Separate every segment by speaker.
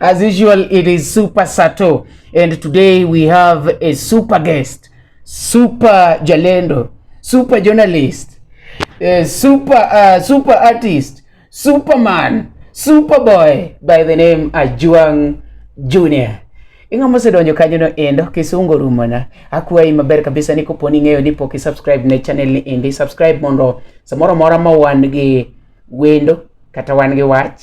Speaker 1: As usual, it is Super Sato, and today we have a super guest, super jalendo, super journalist, uh, super uh, super artist, superman, superboy by the name Ajuang Junior. Inga mose donjo kanyo no endo kisungo rumona akuwayi maber kabisa ni koponi ng'eyo ni pok i subscribe ne channel ni endi subscribe mondo samoro mora ma wan gi wendo kata wan gi wach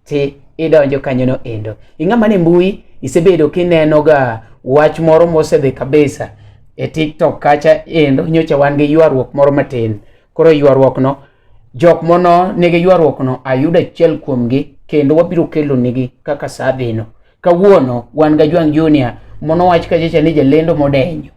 Speaker 1: ti idonjo kanyono endo. Ing'ama ni mbui isebedo kinenoga wach moro mosedhi kabisa e TikTok kacha endo nyocha wan gi ywaruok moro matin. Koro ywaruokno jok mono nigi ywaruokno ayudo achiel kuomgi kendo wabiro kelonigi kaka saa dhino. Kawuono wan ga Jwang Junior mono wach kachacha ni jalendo modenyo.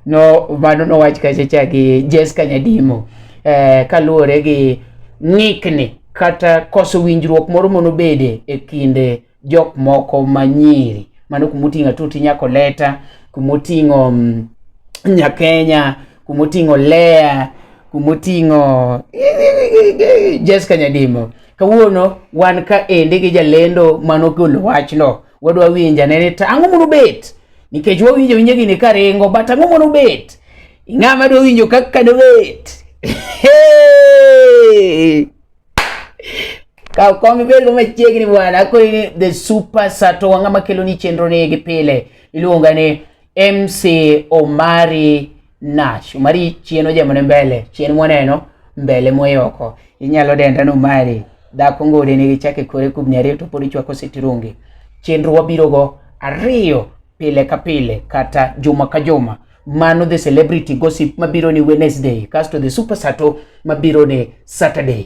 Speaker 1: No mano no wach kachacha gi Jessica Nyadimo eh, kaluwore gi ng'ikni kata koso winjruok moro mono bede e kinde jok moko manyiri mano kumoting'a tuti nyako leta kumoting'o mm, nyakenya kumoting'o Lea, kumoting'o Jessica Nyadimo. Kawuono wan ka ende gi jalendo mano golo wachno. Wadwa winja nene ta ang'o mono bet? Nikech wawinjo winje gini ka ringo, but ang'o mono bet? Ng'a ma dwa winjo kaka do bet? Ka kom ibed go machiegni bwana, akoni ni the super sato wang'a makelo ni chenro ni gi pile. Iluonga ni MC Omari Nash. Omari chien ojamone mbele, chien mwaneno mbele moyoko. Inyalo denda ni Omari. Dhako ngode nigi chake kore kubni ariyo to pod ichwako sitirungi. Chenro wabirogo ariyo pile ka pile kata juma ka juma mano the celebrity gossip mabiro ni Wednesday kasto the super sato mabiro ni Saturday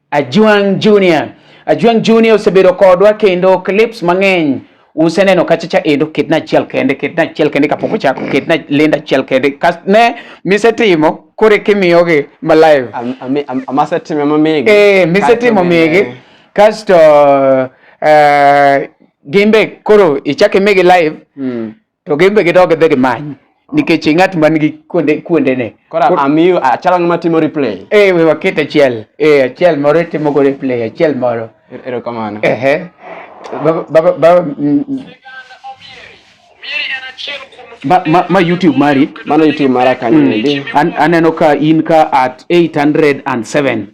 Speaker 1: Ajwang Junior. Ajwang Junior osebedo kodwa kendo clips mang'eny useneno kacha cha endo ketna achiel kende ketna achiel kende kapok ochako ketna lenda achiel kende kas ne misetimo kore kimiyogi ma live amasetime
Speaker 2: mamigi eh misetimo migi
Speaker 1: kasto uh, gimbe koro ichak imigi live mm. to gin be gidog gidhi gimany nikech ng'at man gi kuonde kuonde ne kora amiyo achalo
Speaker 2: ah, ng'ama timo replay eh we waket achiel
Speaker 1: eh achiel moro timo go replay achiel moro er, ero kamano eh
Speaker 2: eh baba
Speaker 1: baba ba, mm, mm. ma, ma, ma youtube mari mano youtube mara kanyo
Speaker 2: mm. aneno ka in
Speaker 1: ka at 807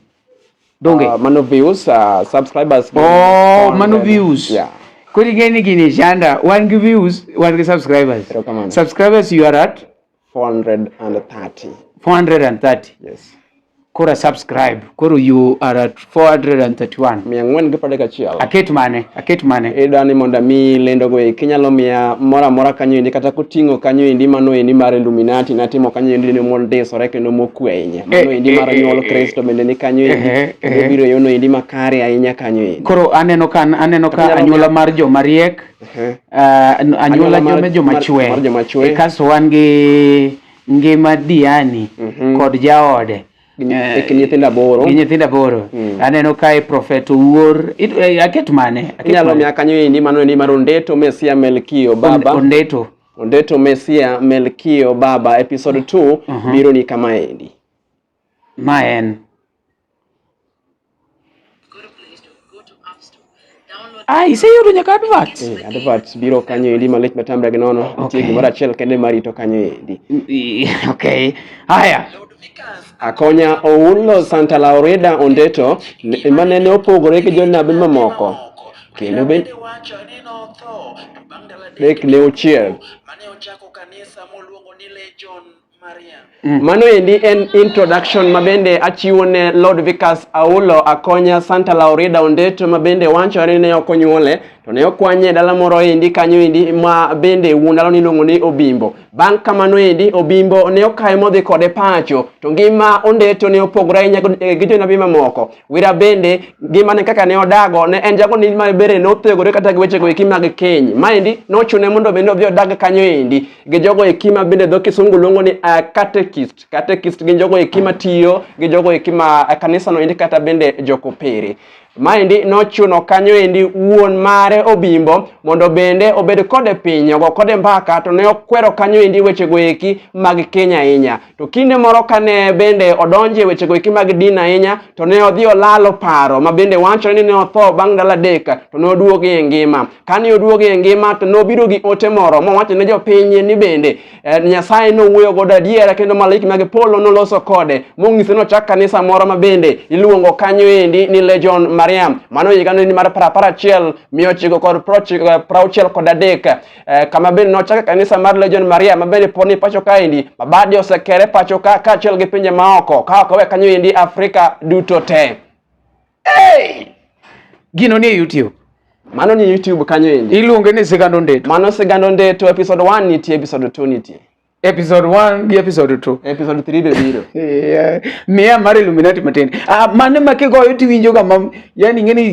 Speaker 1: donge uh, mano views uh,
Speaker 2: subscribers oh mano
Speaker 1: views yeah kodi ngeni
Speaker 2: gini
Speaker 1: shanda wan gi views wan gi subscribers subscribers you are at 430 430 yes
Speaker 2: kora
Speaker 1: subscribe koro you are at 431 mia ng'wen gi pradek
Speaker 2: achiel aket mane aket
Speaker 1: mane ida ni mondo mi
Speaker 2: lendo go eki nyalo miya mora mora kanyo indi kata koting'o kanyo indi mano indi mar illuminati natimo kanyo indi ni mondisore kendo mokweny mano endi mar eh, eh, nyuol eh, Kristo bende ni kanyo endi obiro yono endi makare ahinya kanyo endi. Koro aneno ka
Speaker 1: aneno ka anyuola mar joma riek ah, anyuola joma joma chwe e kaso wan gi ngima Diani mhm. kod jaode
Speaker 2: gi nyithindo aboro gi nyithindo aboro mm.
Speaker 1: aneno kae prophet owuor aket mane inyalo miya kanyo endi
Speaker 2: mano endi mar ondeto mesia melkio baba ondeto Ondeto Mesia Melkio Baba episode 2 uh -huh. biro ni kama endi. Ma
Speaker 1: en Ah, iseyudo nyaka advert. Eh, advert biro kanyo
Speaker 2: endi malich matamra gi nono. Okay. Nitie gimoro achiel kende marito kanyo endi. Okay.
Speaker 1: Haya. Akonya
Speaker 2: Oulo Santa Laureda Ondeto, manene opogore gi jonabi mamoko. kendo be dek ne ochiel mm. mano endi en introduction ma bende achiwo ne Lord Vikas Aulo Akonya Santa Laurida Ondeto ma bende wachore ne ok onyuole to ne okwanye dala moro endi kanyo endi ma bende wuon dala niluongo ni Obimbo. Bang' kamano endi Obimbo ne okaye modhi kode pacho to ngima Ondeto ne opogore ahinya gi jonabi mamoko Wira bende ngimane kaka ne odago ne en jago ni ma bere ne othegore kata gi weche go eki mag keny. Maendi nochune mondo bende odhi odag kanyo endi gi jogo eki ma bende dho kisungu luongo ni uh, catechist. Catechist gin jogo eki ma tiyo gi jogo eki ma uh, kanisa no endi kata bende jokopere. Maendi nochuno kanyo endi wuon mare Obimbo mondo bende obed kode piny ogo kode mbaka to ne okwero kanyo endi weche go eki mag keny ahinya. To kinde moro kane bende odonje wechego eki mag din ahinya, to ne odhi olalo paro ma bende wachore ni ne otho bang' ndalo adek, to ne oduogo e ngima. Kane oduogo e ngima to nobiro gi ote moro mowacho ne jopiny ni bende eh, Nyasaye nowuoyo godo adiera kendo malaiki mag polo noloso kode mong'ise ni ochak kanisa moro ma bende iluongo kanyo endi ni Legion Mariam. Mano higa ni mar parapar achiel mia ochiko kod prochiko- eh, prauchiel kod adek. eh, kama bende nochake kanisa mar Legion Maria ma bende pod ni pacho kaendi ma bade osekere pacho ka kaachiel gi pinje maoko ka ok owe kanyo endi Afrika duto te. Hey!
Speaker 1: Gino ni e YouTube. Mano ni e YouTube
Speaker 2: kanyo endi. Iluonge ni Sigando Ndeto.
Speaker 1: Mano Sigando Ndeto
Speaker 2: episode 1 nitie episode 2 nitie. episode 1
Speaker 1: gi episode 2 episode 3 be biro
Speaker 2: yeah. miya
Speaker 1: mar illuminati matin ah, mane ma kigoyo tiwinjoga ma yani ing'eni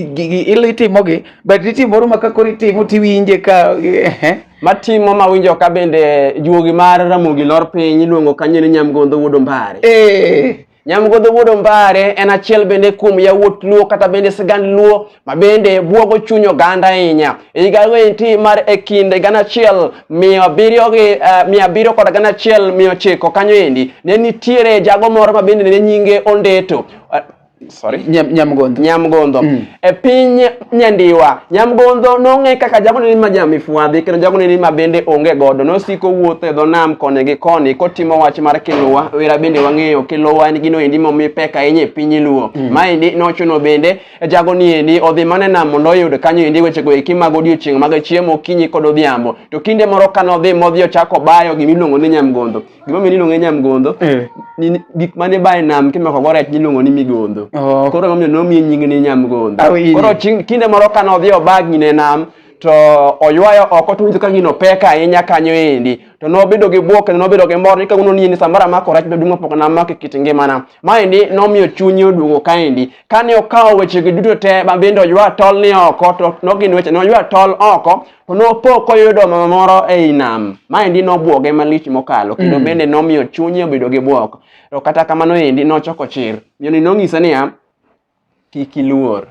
Speaker 1: il itimogi but nitie moro ma kakoro itimo tiwinje ka eh. matimo
Speaker 2: mawinjo ka bende juogi mar ramogi lor piny iluongo kanyo ni nyamgondo wuod ombare eh. Nyamgodho Wuod Ombare en achiel bende kuom yawuot Luo kata bende sigand Luo ma bende buogo chuny oganda ahinya. E higa enti mar e kind gana achiel mia abiriyo gi eh, mia abiriyo kod gana achiel mia ochiko kanyo endi ne nitiere jago moro ma bende ne nyinge Ondeto. Eh, sorry. Nyamgodho. Nyamgodho. Mm. E piny Nyandiwa. Nyamgondho nong'e kaka jagone ni ma jamifwadhi kendo jagone ni ma bende onge godo. Nosiko wuotho e dho nam koni gi koni kotimo wach mar Kiluwa. Wera bende wang'eyo Kiluwa en gino endi momi pek ahinya e piny Luo. Mm. Maendi nochuno bende e jagoni endi odhi mana e nam mondo oyud kanyo endi wechego eki mag odiechieng' mag chiemo okinyi kod odhiambo. To kinde moro kane odhi modhi ochako bayo gimiluongo ni Nyamgondho. gima omiyo niluonge nyamgondho eh. gik mane bae nam kimako go rech niluongo ni migondho oh. koro emomiyo nomiye nying ni nyamgondho koro kinde moro kane odhi obagni ne nam to oywayo oko to winjo ka gino pek ahinya kanyo endi to nobedo gi bwok kendo nobedo gi mor ni kawuono ni ni samoro amako rech maduong' mapok namako e kit ngimana maendi nomiyo chunye oduogo kaendi kane okawo wechegi duto te ma bende oywa tol ni oko to nogin weche ne oywa tol oko Nopo koyudo mama moro ei nam, maendi nobwoge malich mokalo, kendo mm. bende nomiyo chunye obedo gi bwok. To kata kamano endi nochoko chir. Miyoni nong'ise niya, kik iluor.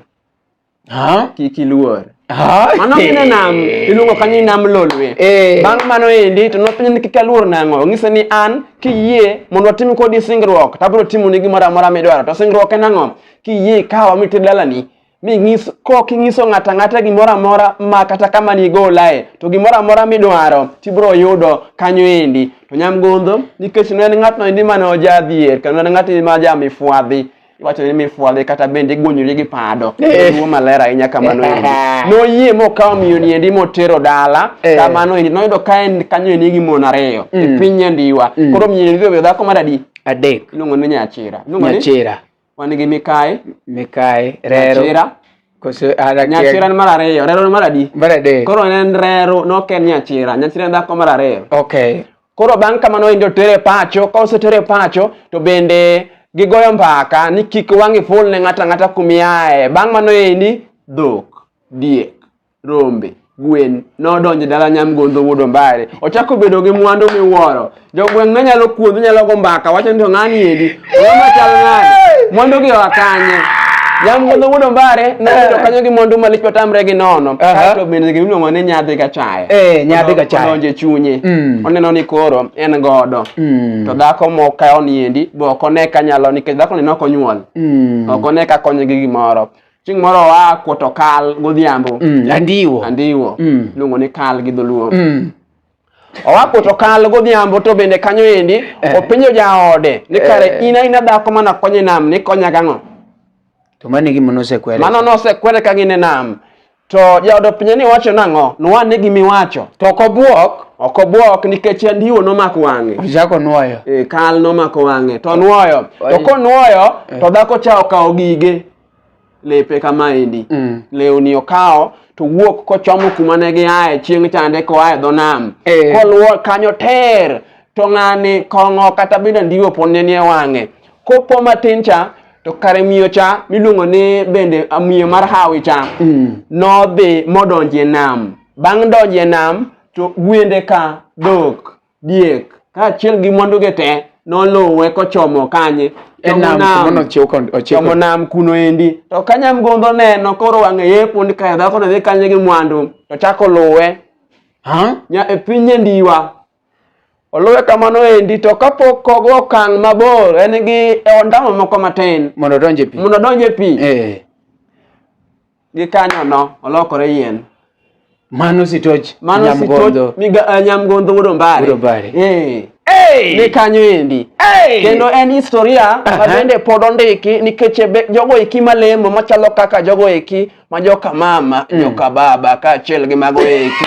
Speaker 2: Ha? Kik iluor. Ha? Mano gine nam, iluongo kanyo ni nam lolwe. Eh. Bang' mano endi, to nopenjo ni kik aluor nang'o. Ong'ise ni an, kiyie mondo atim kodi singruok, tabiro timoni gimoro amora midwaro. To singruok en ang'o? Kiyie ikawa mitir dalani, ming'iso kok ing'iso ng'ato ang'ata gimoro amora ma kata kama nigolae to gimoro amora midwaro tibiro yudo kanyo endi to nyamgondho nikech ne en ng'atno endi mane ojadhier kendo en ng'at ma jamifwadhi iwacho ni mifwadhi kata bende igwonyori gi pado Eh. tuo maler ahinya kamano endi noyie mokawo miyoni endi motero dala Eh. kamano endi noyudo ka en kanyo endi gi mon ariyo e Mm. piny nyandiwa Mm. koro miyoni endi obedo dhako mar adi adek iluongo ni nyachira Iluongo ni- nyachira Wan gi mikayi. Mikayi, rero. Nyachira. Koso ara Nyachira ni mar ariyo, rero ni mar adi? Mar adek. Koro ne en rero, nok en nyachira. Nyachira en dhako mar ariyo. Okay. Koro bang' kamano en jotere pacho, ka osetere pacho to bende gigoyo mbaka ni kik wang'i ful ne ng'ata ng'ata kumiaye. Bang' mano endi, dhok, diek. rombe gwen nodonjo e dala nyamgondo wuod ombare ochako bedo gi mwandu miwuoro jogweng' ne nyalo kuodho nyalo go mbaka wacho ni to ng'ani endi ong'ama chal nade mwandu gi oa kanye nyamgondo wuod ombare nobedo kanyo gi mwandu malich matamre gi nono kaeto bende gimiluongo ni nyadhi gachaye eh, nyadhi gachaye odonjo e
Speaker 1: chunye
Speaker 2: mm. oneno ni koro en godo mm. to dhako mokawo ni endi be ok one ka nyalo nikech dhako ni ne ok onyuol mm. ok one ka konye gi gimoro Chieng' moro oa kuoto kal godhiambo. Mm, andiwo. Andiwo. Mm. Iluongo ni kal gi dholuo. Mm. Oa kuoto kal godhiambo to bende kanyo endi eh. openjo jaode ni kare eh. in aina dhako mana konye nam ni konya gang'o? To mano
Speaker 1: gima nosekwere. Mano nosekwere ka
Speaker 2: gin e nam. To jaodo pinye ni wacho nang'o? Nwane gimi wacho. To ok obwok.
Speaker 1: Ok obwok nikech
Speaker 2: andiwo nomako wang'e. Ochako nwoyo. E,
Speaker 1: kal nomako
Speaker 2: wang'e to nwoyo. To konwoyo eh. to dhako cha okawo gige. lepe kamaendi mm. lewni okawo to wuok kochomo kuma ne giaye chieng' chande koaye dho nam eh. koluwo kanyo ter to ng'ani kong'o kata bende ndiwo pod ne nie wang'e kopo matin cha to kare miyo cha miluongo ni bende miyo mar hawi cha mm. nodhi modonjie nam bang' donjie nam to gwende ka dhok diek kaachiel gi mwanduge te noluwe kochomo kanye chomo nam kuno endi to ka nyamgodho neno koro wang'e yepo ni kae dhako ne dhi kanye gi mwandu to chako luwe nya e piny nyandiwa oluwe kamano endi to kapok kogo okang' mabor en gi e ondamo moko matin mondo
Speaker 1: odonj e pi eh.
Speaker 2: Gikanyono olokore yien. Mano
Speaker 1: sitoch Mano nyamgondo. sitoch miga,
Speaker 2: uh, nyamgondo wuod Ombare. Wuod Ombare. Eh. Hey! Ni kanyo endi. Hey! Kendo en historia Aha. ma bende pod ondiki nikech e be- jogo eki malemo machalo kaka jogo eki ma joka mama, joka baba kaachiel gi mago eki.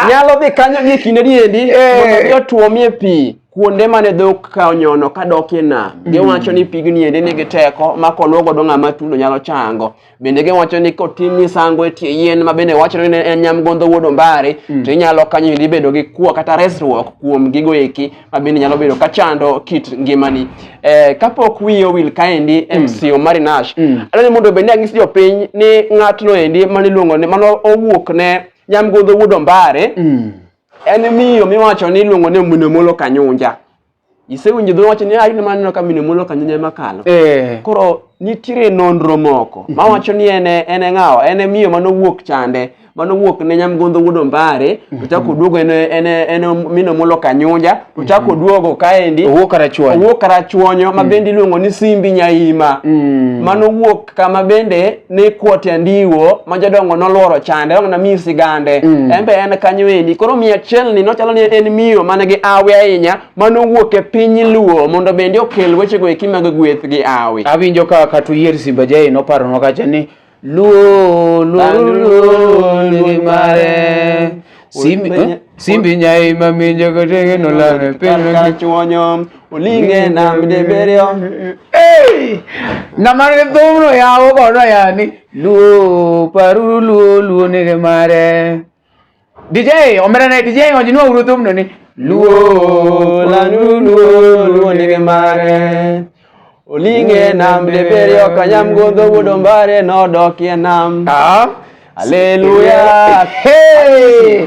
Speaker 2: Nyalo dhi kanyo gi kindeni endi Eh. mondo mi otuomie pi. kuonde mane dhok ka onyono ka dok e nam mm. giwacho ni pigni ende nigi teko ma koluo godo ng'ama tulo nyalo chango bende giwacho ni kotim misango e tie yien ma bende wacho ni en nyamgondo wuod ombare mm. to inyalo kanyo endi bedo gi kuo kata resruok kuom gigo eki ma bende nyalo bedo ka chando kit ngimani eh, kapok wiye owil kaendi mm. mc omari nash mm. adwani mondo bende anyis jopiny ni ng'atno endi maniluongo ni mano owuok ne nyamgondo wuod ombare mm. En miyo miwacho ni iluongo ni mine molo kanyunja. Isewinjo dho wacho ni ayi ah, ma neno ka mine molo kanyunja ema kalo. Eh. Koro nitiere nonro moko mhm. mawacho ni en en e ng'awa en e miyo manowuok chande manowuok ne nyamgondo wuod ombare mhm. ochako oduogo en en en mino molo kanyunja ochako mhm. oduogo kaendi owuok karachuonyo owuok karachuonyo ma bende iluongo ni simbi nyaima mm. manowuok kama bende ne kuote ndiwo ma jodongo nolworo chande wang'na miyo sigande mm. en be en kanyo endi koro miyo achiel ni nochalo ni en miyo mane gi awi ahinya mane owuok e piny luo mondo bende okel wechego eki mag gweth gi awi awinjo ka kata uyier
Speaker 1: simba jae noparonwa kacha ni luo luo luo nigi mare Simbi, eh? Simbi nyai mami jogo tege no lame pele ka chuonyo
Speaker 2: olinge na mdeberio Hey! Na
Speaker 1: mare dhumno ya obo no ya ni luo paru luo luo ni ke mare DJ omera ne DJ onji no uru dhumno ni luo lanu luo luo ni ke mare Oling'e nam dibiriyo kanyam gondho wudo mbare nodokie nam. Ah. Haleluya. Hey!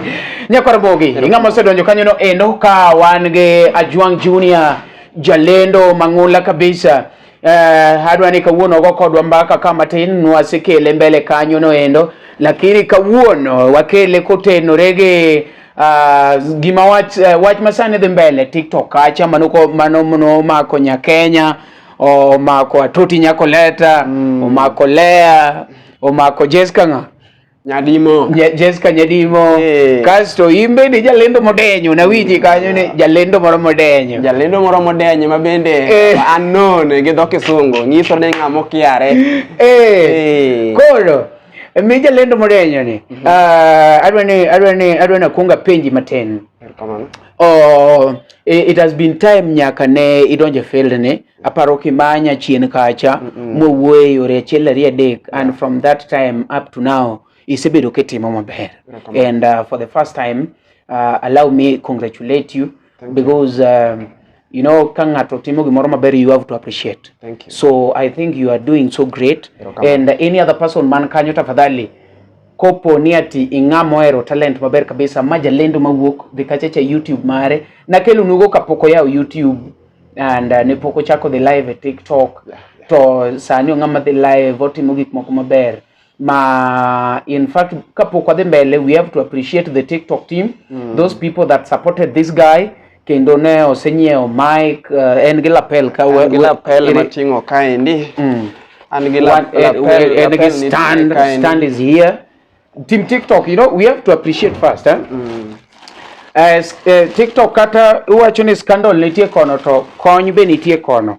Speaker 1: Nyakwar Bogi, ing'ama osedonjo kanyono endo ka wan gi Ajwang Junior, jalendo mang'ula kabisa. Eh, adwa ni kawuono ogo kodwa mbaka ka matin nwasekele mbele kanyono endo, lakini kawuono wakele kotenore gi Uh, gima wach uh, wach masani dhi mbele TikTok kacha mano mano mano mako nya Kenya omako Atoti nyako leta mm. omako Lea omako Jessica nga Nyadimo. Nye, Jessica Nyadimo. Hey. Kasto imbe ni jalendo modenyo na wiji mm. kanyo ni jalendo moro modenyo. Jalendo moro modenyo ma bende
Speaker 2: hey. Eh. unknown gi dho kisungu nyiso ni ng'amo kiare. Eh. Hey. Hey. Koro
Speaker 1: Mi jalendo modenyo ni mm -hmm. uh, adwa ni adwa ni adwa na kuonga penji matin. Kamano. Oh, it has been time nyaka ne idonje field ni aparo kimanya chien kacha mm -mm. mowuoyo yore achiel ariyo adek and from that time up to now isebedo kitimo maber and uh, for the first time uh, allow me congratulate you because um, you know ka ng'ato timo gimoro maber you have to appreciate Thank you. so i think you are doing so
Speaker 2: great
Speaker 1: and any other person man kanyo tafadhali kopo ni ati ing'a mohero talent maber kabisa ma jalendo mawuok dhikachecha youtube mare nakelonugo kapok oyawo youtube and uh, ne pok ochako dhi live e tiktok yeah, yeah. to sani ong'ama dhi live otimo gik moko maber ma in fact kapok wadhi mbele we have to appreciate the tiktok team mm. those people that supported this guy kendo ne osenyiewo mic uh, en gi lapel ka en gi lapel mating'o
Speaker 2: kaendi mm. an gi lapel en gi stand stand
Speaker 1: is here team tiktok you know we have to appreciate first eh? mm. Uh, uh, TikTok kata iwacho ni scandal nitie kono to kony be nitie kono.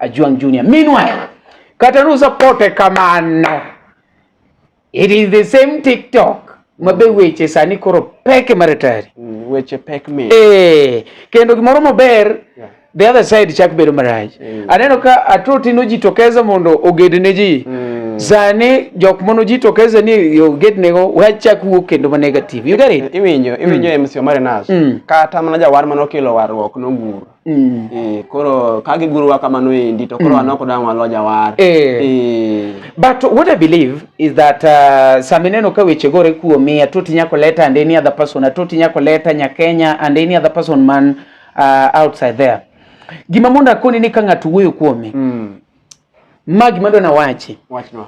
Speaker 1: Ajwang Junior. Meanwhile, kata nusapote kamano, it is the same TikTok ma be weche sani koro peke maratari mm, weche pek mi
Speaker 2: eh kendo
Speaker 1: gimoro maber yeah. the other side chak bedo marach mm. aneno ka atoti no jitokeza mondo oged ne ji mm. sani jok mono jitokeza ni oged ne go wachak wuok kendo ma negative you get it iwinjo iwinjo mm. MC Omar
Speaker 2: Nash mm. kata mana jawar mano kelo warruok no nguru Mm. Eh, koro ka gigurowa kamano endi to koro mm. anoko dang' walo jawar. Eh. Eh.
Speaker 1: But what I believe is that uh, sama ineno ka weche gore kuomi atoti nyako leta and any other person atoti nyako leta nyakenya and any other person man uh, outside there gima mondo akoni ni ka ng'ato wuoyo kuome mm. ma gima dwa nawachi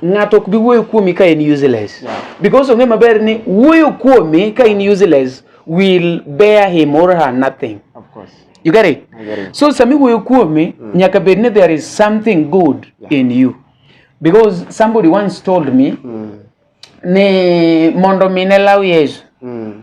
Speaker 1: ng'ato ok bi wuoyo kuomi ka in useless yeah. because ong'e maber ni wuoyo kuomi ka in useless will bear him or her nothing of course. you get
Speaker 2: it? I get it
Speaker 1: so sami wuoyo
Speaker 2: kuomi
Speaker 1: mm. nyaka bed ni there is something good yeah. in you because somebody once told me mm. ni mondo mi ne law yesu mm.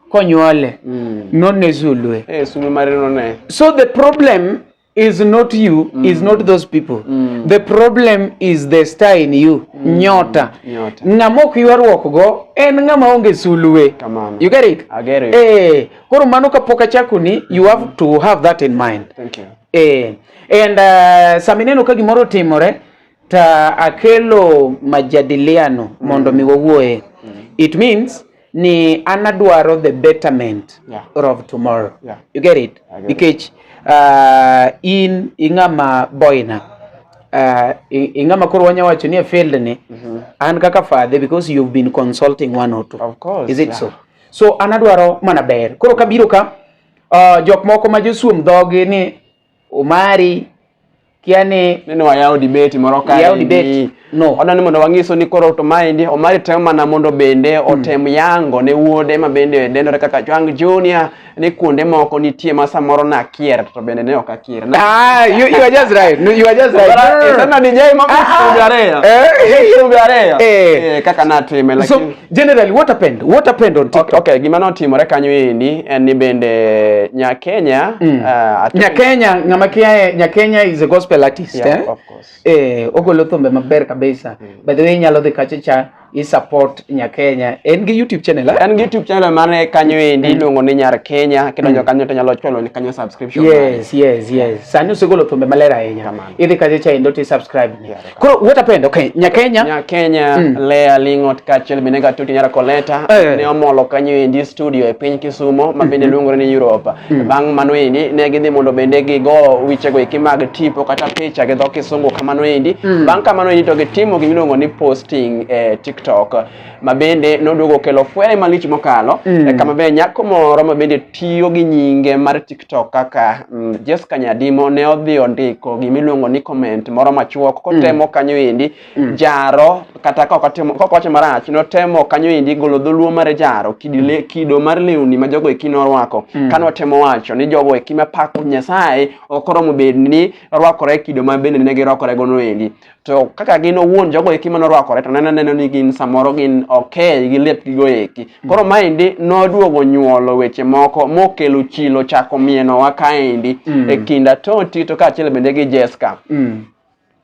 Speaker 1: konyuole mm. nonne zulwe hey, eh,
Speaker 2: so the problem
Speaker 1: is not you mm. is not those people mm. the problem is the star in you mm. nyota, nyota. ng'ama ok ywaruok go en ng'ama onge sulwe you get it eh
Speaker 2: koro mano kapok
Speaker 1: achakoni you have mm. to have that in mind Thank you.
Speaker 2: eh and
Speaker 1: uh, samineno ka gimoro timore ta akelo majadiliano mondo mm. mi wawuoye mm. it means ni an adwaro the betterment yeah. of tomorrow yeah. you get it nikech uh, in ing'ama boina uh, ing'ama koro wanya wacho ni e field ni mm -hmm. an kaka father because you've been consulting one or two of course, is it yeah. so
Speaker 2: so
Speaker 1: an adwaro mana ber koro kabiro ka uh, jok moko ma josuom dhogi ni Omari kia ni nene wayawo debate
Speaker 2: moro ka yawo debate no
Speaker 1: odwani mondo wanyiso ni
Speaker 2: koro to maendi Omari temo mana mondo bende hmm. otem yango ne wuode ma bende dendore kaka Jwang Junior ni kuonde moko nitie ma samoro na kier to bende ne ok akier ah you, you are just
Speaker 1: right no, you are just right sana ni jai ma
Speaker 2: kusubare eh kusubare eh. eh kaka na teme lakini so, Generally, what
Speaker 1: happened? What happened on TikTok? Okay, okay. Gima notimore
Speaker 2: kanyo endi en ni bende Nyakenya mm. uh, Nyakenya
Speaker 1: ng'ama kiaye Nyakenya is a gospel artist yeah, eh? Of course.
Speaker 2: Eh, ogolo thumbe
Speaker 1: maber kabisa. Mm. By the way, nyalo dhi kache cha i support Nyakenya. En gi YouTube channel eh? En gi YouTube channel mane
Speaker 2: kanyo endi mm. iluongo ni Nyar Kenya kidonjo mm. kanyo to nyalo cholo ni kanyo subscription. Yes, yes, yes.
Speaker 1: Sani usegolo thumbe maler ahinya. Idhi kache cha endo ti subscribe. Yeah. Koro what happened? Okay, Nyakenya. Nyakenya mm.
Speaker 2: Lea Lingot kaachiel bende Gatuti Nyara Koleta hey. Eh. ne omolo kanyo endi studio e piny Kisumo ma bende mm -hmm. luongore ni Europe. Mm. Bang' mano endi ne gidhi mondo bende gigo wichego eki mag tipo kata picha gi dho Kisungu kamano endi. Mm. Bang' kamano endi to gitimo gimiluongo ni posting e TikTok. ma bende noduogo okelo fwere malich mokalo mm. e kama be nyako moro ma bende tiyo gi nyinge mar TikTok kaka mm, Jessica Nyadimo ne odhi ondiko gimiluongo ni comment moro machuok mm. kotemo mm. kanyo endi mm. jaro kata kokowacho marach notemo kanyo endi golo dholuo mar jaro kidile, mm. kido mar lewni ma jogo eki norwako mm. kane otemo wacho ni jogo eki mapako Nyasaye ok oromo bed ni rwakore kido ma bende ne girwakorego noendi to kaka gin owuon jogo eki mane orwakore to nene neno ni gin samoro gin okay gi lepgigo eki mm. koro maendi noduogo nyuolo weche moko mokelo chilo chako mienowa kaendi mm. e kinda toti to kaachiel bende gi jeska mm.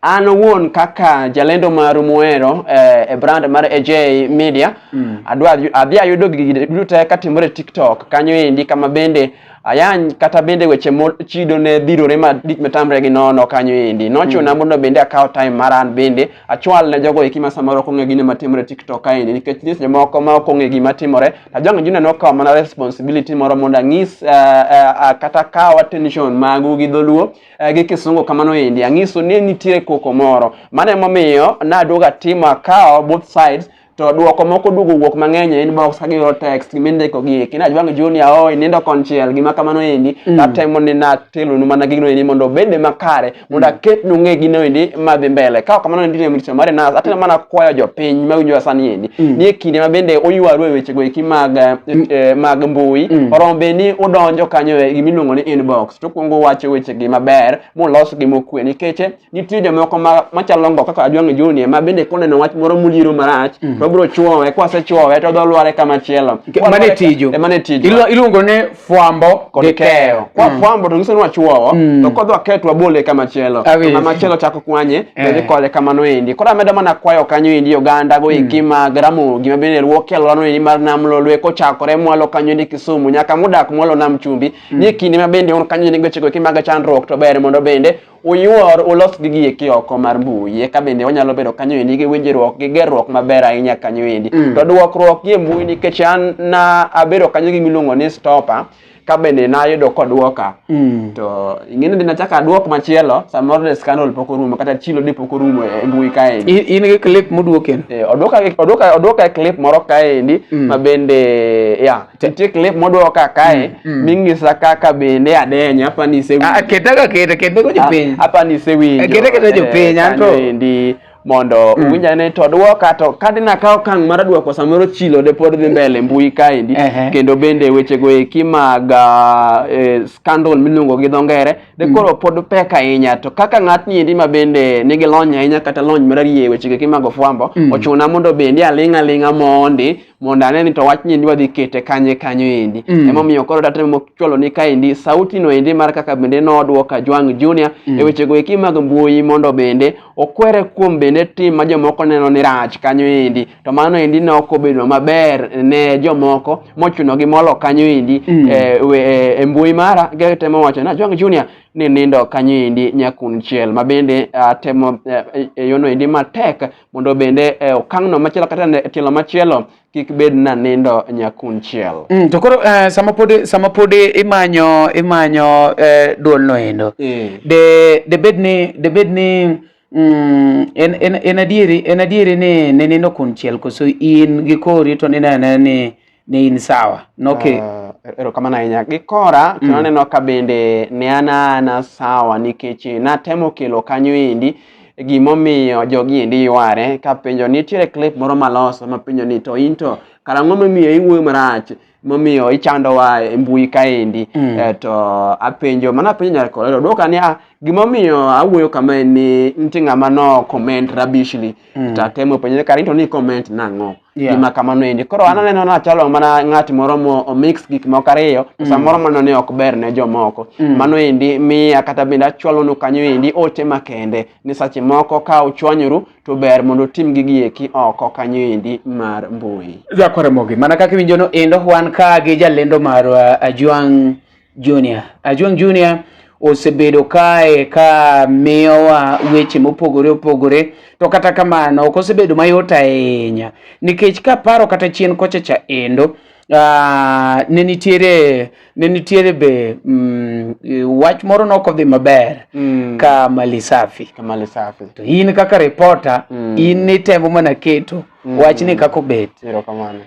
Speaker 2: an owuon kaka jalendo maru muhero eh, e brand mar AJ Media mm. adwa adhi ayudo gigi duto katimore TikTok kanyo endi kama bende Ayany kata bende weche mochido ne dhirore ma dik metamre gi nono kanyo endi. Nochuna mm. mondo bende akaw time mar an bende achwal ne jogo eki ma samoro ok ong'e gine matimore TikTok kaendi nikech nitie seche moko ma ok ong'e gima timore. Ajong' Junior nokawo mana responsibility moro mondo ang'is uh, uh, kata kaw attention magu gi dholuo uh, gi kisungu kamano endi. Ang'iso ni nitiere koko moro. Mano emomiyo naduogo atimo akawo both sides to duoko moko duogo wuok mang'eny e inbox ka giyudo text gima indiko gi eki najwang' junior oi nindo konchiel gima kamano endi mm. natemo ni natelonu mana gino endi mondo obed makare mondo mm. aketnu ng'e gino endi madhi mbele ka kamano endi ne mricho mare nas atemo mana kwayo jopiny ma winjo sani endi mm. ni e kinde ma bende oywaru e wechego eki mag eh, mm. eh, mag mbui mm. oromo be ni udonjo kanyo e gimiluongo ni inbox to kwongo wacho wechegi maber mulos gi mokwe nikech Nitie jomoko ma machalo ngo kaka Ajwang' Junior ma bende koneno wach moro muliero marach mm. to bro chuowe kwa se chuowe to dho lware kama chielo. Mane tiju. E
Speaker 1: mane tiju. Ilo iluongo ne fwambo gi keyo.
Speaker 2: Kwa mm. fwambo to ngiso nwa chuowo mm. to kodwa ketwa bole kama chielo. Kama chielo chako kwanye to eh. dhi kole kama no endi. Kora medo mana kwayo kanyo endi oganda go iki mm. ma gramo gima bende ruok e lwano endi mar nam lolwe ko chakore mwalo kanyo endi Kisumu nyaka mudak mwalo nam chumbi. Mm. Ni kinde ma bende on kanyo endi gochego kimaga chandruok to ber mondo bende Uyuor ulos gigi eki oko mar mbui eka bende wanyalo bedo kanyo endi gi winjruok gi gerruok maber ahinya kanyo endi mm. to duokruok gi e mbui nikech an na abedo kanyo gi miluongo ni stopper ka bende nayudo kodwoka mm. to ing'eni dina chaka adwok machielo samoro de scandal pok orumo kata chilo de pok orumo e mbui kaendi in gi clip
Speaker 1: modwoken eh, odwoka odwoka odwoka
Speaker 2: e clip moro kaendi mm. ma bende ya yeah, Nitie clip modwoka kae mm, mm. ming'isa kaka bende adenya hapa ni sewi. Ah, keta ka keta keta go
Speaker 1: jopiny. Ah, hapa ni sewi. Eh,
Speaker 2: keta keta jopiny eh,
Speaker 1: anto. Ndi mondo
Speaker 2: mm. uwinja ne to dwoka to kadi na kawo kang' mar dwoko samoro chilo de pod dhi mbele mbui kaendi kendo bende weche go eki mag ah, eh, scandal miluongo gi dho ngere de mm. koro pod pek ahinya to kaka ng'atni endi ma bende nigi lony ahinya kata lony mararie weche go eki mag ofwambo mm. ochuna mondo bende aling' aling'a mondi mondo ane ni to wachni endi wadhi kete kanye kanyo endi mm. emomiyo koro tatemo chwalo ni kaendi sauti no endi mar kaka bende nodwoka Jwang Junior mm. e wechego eki mag mbui mondo bende okwere kuom bende tim ma jomoko neno ni rach kanyo endi to mano endi ne ok obedo maber ne jomoko mochunogi molo kanyo endi mm. e, e, e mbui mara getemo wacho na Jwang Junior ni nindo kanyo endi nyakun chiel ma bende uh, temo uh, e yono endi matek mondo bende e okang'no machielo kata e tielo machielo kik bed na nindo nyakunchiel. Mm, to koro uh, sama
Speaker 1: pod sama pod imanyo imanyo uh, eh, duol no endo. Yeah. De de bed ni de bed ni mm, en en en adieri en adieri ni ne nindo kunchiel koso in gi kori to ni ne ni ni in sawa noke uh, eh, erokamano ahinya
Speaker 2: gi kora mm. kendo aneno ka bende ne an ana sawa nikech natemo kelo kanyo endi gimomiyo jogi endi yware kapenjo nitiere clip moro maloso mapenjo ni to in to karang'o momiyo iwuoyo marach momiyo ichandowa e mbui kaendi mm. Eh, to apenjo mana apenjo nyar kolero dwoka ni ah, gimomiyo awuoyo kama en ni nitie ng'ama no comment rabishly mm. tatemo penjo kara into ni comment nang'o Yeah. gima kamano endi koro an aneno nachalo mana ng'at moro momix gik moko ariyo to mm. samoro mano ne ok ber ne jomoko mm. mano endi miya kata bende achwalonu kanyo endi ote makende ni sache moko ka uchwanyoru to ber mondo utim gigi eki oko kanyo endi mar mbui jakoremogi mana
Speaker 1: kaka iwinjono endo wan ka gi jalendo marwa uh, ajwang' Junior. Ajwang Junior osebedo kae ka miyowa weche mopogore opogore to kata kamano ok osebedo mayot ahinya nikech kaparo kata chien kocha cha endo uh, ne nitiere ne nitiere be mm, wach moro nok odhi maber mm. ka mali safi ka mali safi to in kaka reporter mm. in nitemo mana keto mm. wach ni kako bet erokamano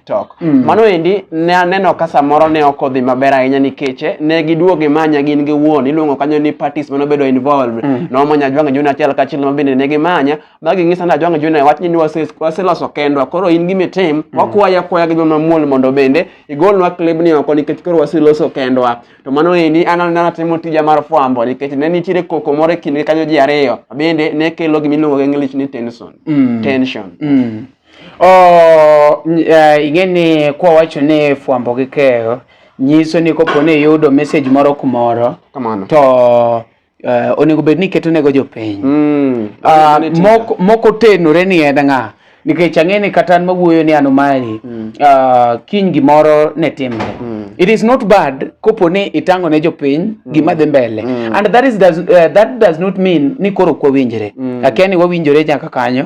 Speaker 2: TikTok. Mm. Mano endi ne aneno ka samoro ne ok odhi maber ahinya nikech eh, ne giduogo imanya gin gi wuon iluongo kanyo ni parties mano bedo involved. Mm. Nomanya Ajwang' Junior achiel kachiel ma bende ne gimanya ma ging'isa ni Ajwang' Junior wach ni wase- waseloso kendwa koro in gima itim wakwaya akwaya gi joma muol mondo bende igolnwa klibni oko nikech koro waseloso kendwa. To mano endi an an atimo tija mar fwambo nikech ne nitiere koko moro e kindgi kanyo ji ariyo ma bende ne kelo gima iluongo gi English ni tension. Mm. Tension. Mm. Oh,
Speaker 1: eh, ing'e ni kwawacho ni fwambo gi keyo nyiso ni kopo ni iyudo message moro kumoro kamano to uh, onego bed ni iketo jopiny mm, uh, mok, moko tenore ni en ng'a nikech ang'e ni kata an mawuoyo ni anomari mm. uh, kiny gimoro ne timre mm. it is not bad kopo ni itang'o ne jopiny mm. gima dhi mbele mm. and that, is, does, uh, that does not mean ni koro kwawinjre mm. akia ni wawinjore nyaka kanyo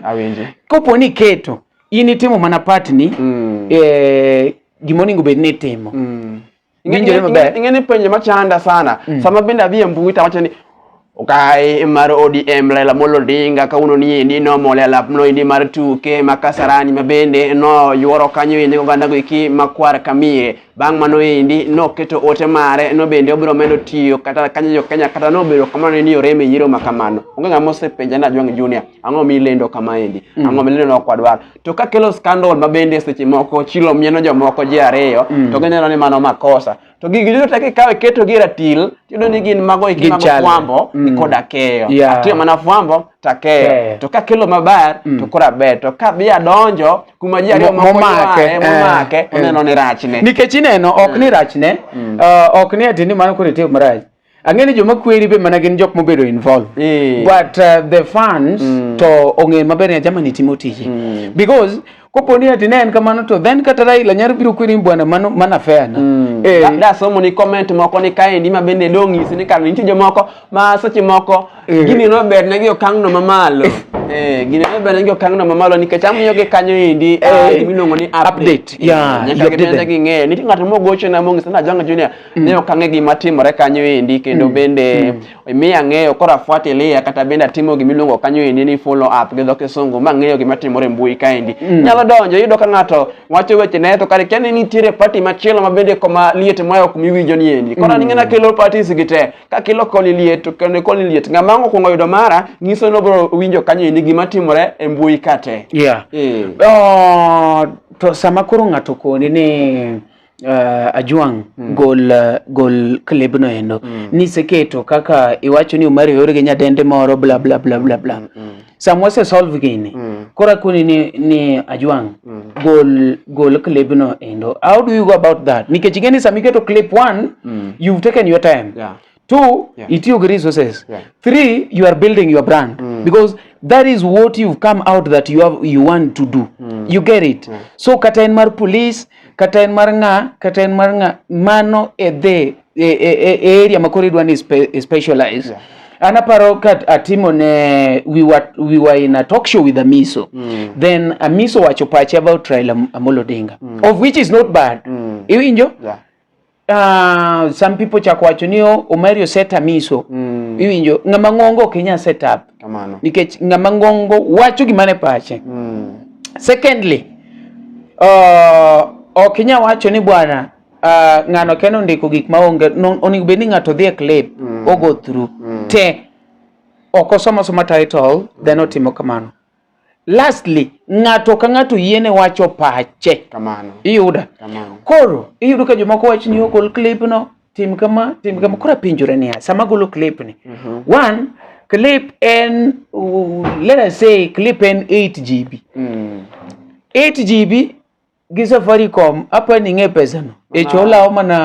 Speaker 1: Kopo ni iketo in itimo mana part ni mm. eh, gima onego bed ni itimo mm. Ing'e maber.
Speaker 2: Ing'e ni penjo machanda sana. Mm. Sama bende adhi e mbui to awacho ni Ukai mar ODM Raila Amolo Odinga kawuono ni endi nomol e alap no endi mar tuke ma Kasarani ma bende noyuoro kanyo ende oganda go eki makwar kamie Bang' mano endi noketo ote mare no bende obiro medo tiyo kata kanyo jo Kenya kata nobedo kamano ni orem e yiero ma kamano. Onge ng'ama osepenja na Jwang Junior ang'o mi lendo kama endi mm. ang'o mi lendo no kwadwar. To ka kelo scandal ma bende seche moko chilo mieno jomoko ji ariyo mm. to gineno ni mano makosa to gigi duto te kikawe keto gi ratil tiyudo ni gin mago eki mago fwambo mm. koda keyo yeah. atiyo mana fwambo take to ka kelo maber mm. to kora ber to ka bi adonjo kuma ji ariyo momake eh, momake eh. oneno ni rachne nikech ineno ok mm. ni
Speaker 1: rachne mm. uh, ok ni atini mano kore tiyo marach ang'e ni joma kweri be mana gin jok mobedo involved but uh, the fans mm. to ong'e maber ni ajamani timo tiji mm. because kopo ni ati ne en kamano to then kata Raila nyalo biro kwiri bwana mano mana fair na mm. eh. da, da somo ni comment
Speaker 2: moko ni kaendi ma bende dong nyisi ni kano nitie jomoko ma seche moko eh. gini no ber ne gi okang' no mamalo eh gini no ber ne gi okang' no mamalo nikech amiyo gi kanyo endi ah, eh, miluongo ni update yeah nyaka gibende gi ng'eyo nitie ng'ato mogocho na mong'isa na Janga Junior mm. ne okang'e gima timore kanyo endi kendo mm. bende mm. miya ng'eyo koro afuatilia kata bende atimo gima iluongo kanyo endi ni follow up gi dho kisungu ma ng'eyo gima timore e mbui kaendi mm. nyalo donjo iyudo ka ng'ato wacho weche ne to kare kia ni nitiere party machielo ma bende koma liet ma ok miwinjo ni endi koro mm. ning'ena kelo parties gi te ka kilo koni liet to koni koni liet ng'ama ang' okwongo yudo mara ng'iso ni obiro winjo kanyo endi gima timore e mbui ka te yeah. yeah. oh,
Speaker 1: to sama koro ng'ato koni ni uh, Ajwang mm. gol uh, gol clip no endo mm. niseketo kaka iwacho ni Omari oore gi nyadende moro bla bla bla bla bla mm. mm. sama wase solve gini mm. kora kuni ni, ni Ajwang mm. gol gol clip no endo how do you go about that nikech ing'e ni sama iketo clip one mm. you've taken your time yeah. two yeah. itiyo gi resources yeah. three you are building your brand mm. because that is what you've come out that you have you want to do mm. you get it yeah. so kata en mar police kata en mar nga kata en mar nga mano e the e, e, e, e area makoro idwa ni spe, e specialize yeah. anaparo ka atimo ne we were, we were in a talk show with Amiso mm. then Amiso wacho pache about Raila Amolo Odinga mm. of which is not bad mm. iwinjo yeah. Uh, some people chako wacho ni oh, Omari oset amiso mm. Iwinjo ng'ama ng'ongo ok inya set up Kamano. nikech ng'ama ng'ongo wacho gima ne pache mm. Secondly uh, ok inya wacho ni bwana uh, ng'ano keno ndiko gik maonge onego bed ni ng'ato dhi e clip mm. ogo through mm. te ok osomo soma title then otimo kamano lastly ng'ato ka ng'ato yiene wacho pache kamano iyuda
Speaker 2: kamano
Speaker 1: koro iyudo ka jomoko wach ni ogol clip no tim kama tim kama koro apenjore niya sama golo clip ni mm -hmm. one clip en uh, let us say clip en 8 gb mm. 8 gb gi Safaricom apa ni ng'e pesano echo ah. olawo mana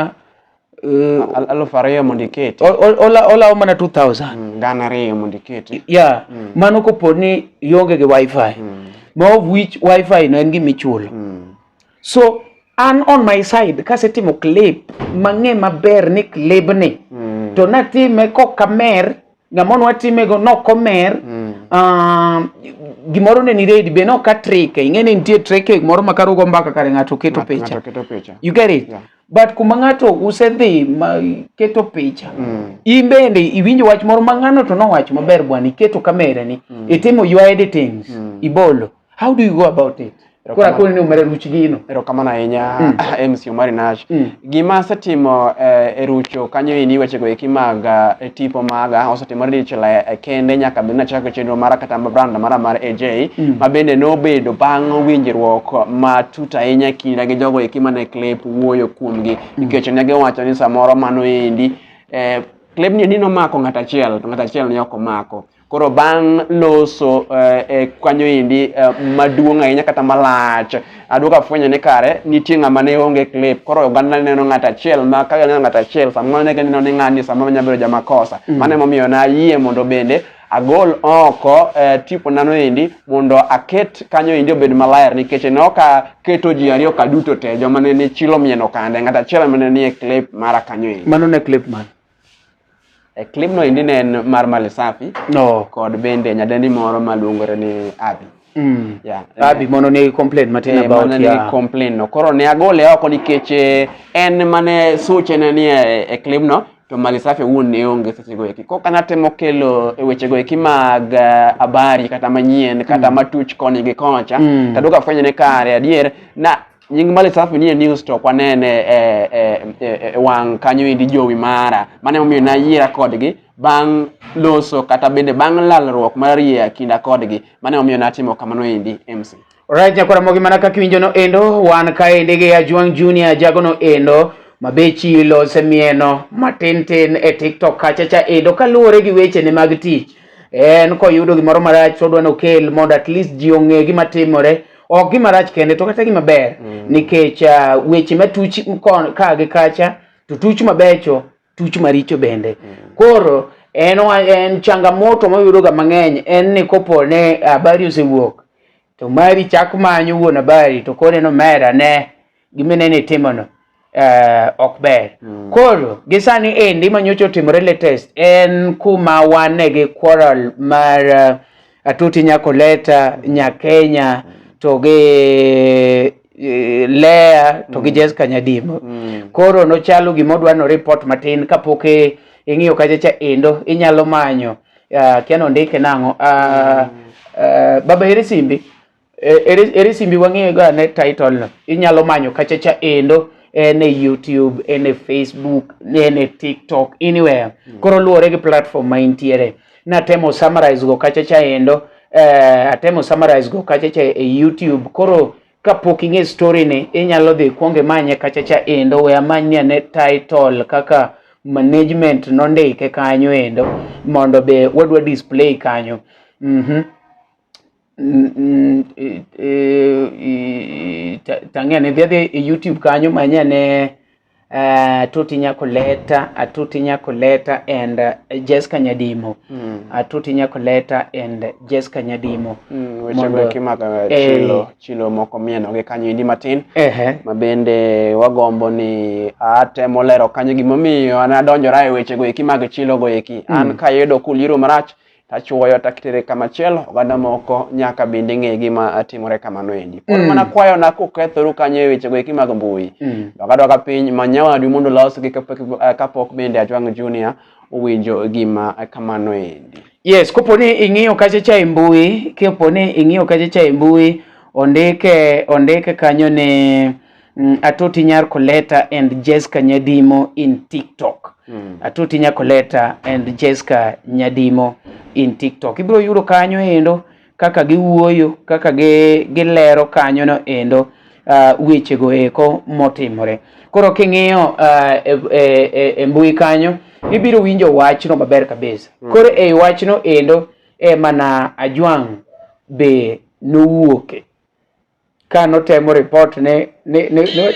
Speaker 1: eh, aluf
Speaker 2: ariyo mondo iketi olawo mana 2000
Speaker 1: mm, gana ariyo mondo
Speaker 2: iketi ya mm. mano
Speaker 1: kopo ni ionge gi wifi mm. ma of which wifi no en gima ichulo so an on my side kasetimo clip mang'e maber ni clip ni to natime kokamer ng'ama nwa timego nok omer mm. uh, gimoro ne ni ready be nok a trike ing'e ni nitie trike moro ma karugo mbaka kare ng'ato keto picha you get it yeah. but kuma ng'ato usedhi ma keto picha mm. in bende iwinjo wach moro ma ng'ano to nowacho maber bwana iketo kamera ni mm. itimo your editings mm. ibolo How do you go about it? Kora kone ni umere ruch gino. Ero kamano ahinya
Speaker 2: mm. MC Omari Nash. Mm. Gima asetimo eh, e rucho kanyo ini weche go eki mag eh, tipo maga osetimore dichiel eh, kende nyaka bende nachako chenro mara kata brand mara mar AJ mm. ma bende nobedo bang' winjruok matut ahinya kinda gi jogo eki mane clip wuoyo kuomgi mm. nikech ne giwacho ni samoro mano endi eh, klebni ni nomako ng'at achiel to ng'at achiel ni ok omako Koro bang' loso eh, e kanyo endi eh, maduong' ahinya kata malach, aduogo afwenyo ni kare nitie ng'ama ne onge clip. Koro oganda ne neno ng'at achiel ma ka neno ng'at achiel samoro ne gineno ni ng'ani samoro nyalo bedo jamakosa. Mm. Mano emomiyo nayie mondo bende agol oko eh, tipo nano endi mondo aket kanyo endi obed maler nikech ne ok aketo ji ariyo ka duto te joma ne chilo mieno kande ng'at achiel mane nie clip mara kanyo endi. Mano ne clip man?
Speaker 1: E
Speaker 2: clip no indi ne en mar Mali Safi. No. Kod
Speaker 1: bende nyadendi
Speaker 2: moro maluongore ni Abi. Mm. Yeah.
Speaker 1: Abi mono ne complain matin eh, about ya. Mono ne complain no.
Speaker 2: Koro ne agole oko nikech eh, en mane suche ne ni e, e clip no to Mali Safi wuon ne onge seche go eki. Kok anatemo kelo e weche go eki mag eh, habari kata manyien kata mm. matuch koni gi kocha. Mm. Taduka fwenye ne kare adier na nying Mali Safi nie news to kwanene e, e, e, e, e wang' kanyo endi jowi mara mane momiyo nayiera kodgi bang' loso kata bende bang' lalruok mar yie kinda kodgi mane momiyo natimo kamano endi MC. Alright, nyakwara mogi
Speaker 1: mana kaka iwinjo no endo wan kaendi gi Ajwang' Junior jago no endo mabechi lose mieno matin tin e TikTok kacha cha endo kaluwore gi weche ne mag tich en koyudo gimoro marach to odwa nokel mondo at least ji ong'e gima timore ok gima rach kende to kata gima ber mm. nikech uh, weche matuch ka gi kacha to tuch mabecho tuch maricho bende mm. koro en, en changamoto mayudoga mang'eny en ni kopo ne habari osewuok to mari chak manyo wuon habari to koro en omera ne gima ineno itimono eh, ok ber mm. koro gi sani endi ma nyocha otimore latest en kuma wane gi quarrel mar uh, atuti nyakoleta nyakenya to gi eh, lea to gi mm. jes kanyadimo mm. koro nochalo gima odwa no report matin kapok e, ing'iyo kachacha endo inyalo manyo uh, kiano ndike nang'o uh, mm. uh, baba heri simbi Eh, ere, ere simbi wang'eyo ga ne title no inyalo manyo kachacha endo en e youtube en e facebook en e tiktok anywhere mm. koro luwore gi platform ma intiere natemo summarize go kachacha endo eh, atemo summarize go kachacha e youtube koro kapok ing'e story ni inyalo dhi kwonge manye kachacha endo we amanye ne title kaka management nondike kanyo endo mondo be wadwa display kanyo mm -hmm. tang'e ne dhiadhi e youtube kanyo manye ne uh, Tuti Nyakoleta, uh, Tuti Nyakoleta and uh, Jessica Nyadimo. Mm. Uh, Tuti Nyakoleta and Jessica Nyadimo. Mm, weche go
Speaker 2: kimaka uh, eh. chilo, eh, chilo moko mieno gi kanyo indi matin. Eh, eh. Ma bende wagombo ni atemo lero kanyo gimomiyo an adonjora e weche go eki mag chilo go eki. Mm. An kayudo kuliro marach tachuoyo takitere kamachielo oganda moko nyaka bende ng'e gima timore kamano endi pod mm. mana kwayona kukethoru kanyo e wechego eki mag mbui mm. dokadoka piny manyawadu mondo losgi eh, kapok bende ajwang' junior owinjo gima kamano endi yes kopo ni
Speaker 1: ing'iyo kacha cha e mbui kopo ni ing'iyo kacha cha e mbui ondike ondike kanyo ni Mm, Atoti Nyar Koleta and Jessica Nyadimo in TikTok. Mm. Atoti Nyar Koleta and Jessica Nyadimo in TikTok. Ibiro yudo kanyo endo kaka giwuoyo, kaka gi, gilero kanyo no endo uh, wechego eko motimore. Koro king'iyo uh, e, e, e, e mbui kanyo, ibiro winjo wachno maber kabisa. Mm. Koro e wachno endo e mana Ajwang' be nowuoke.
Speaker 3: ka
Speaker 1: notemo report ni ni ni ni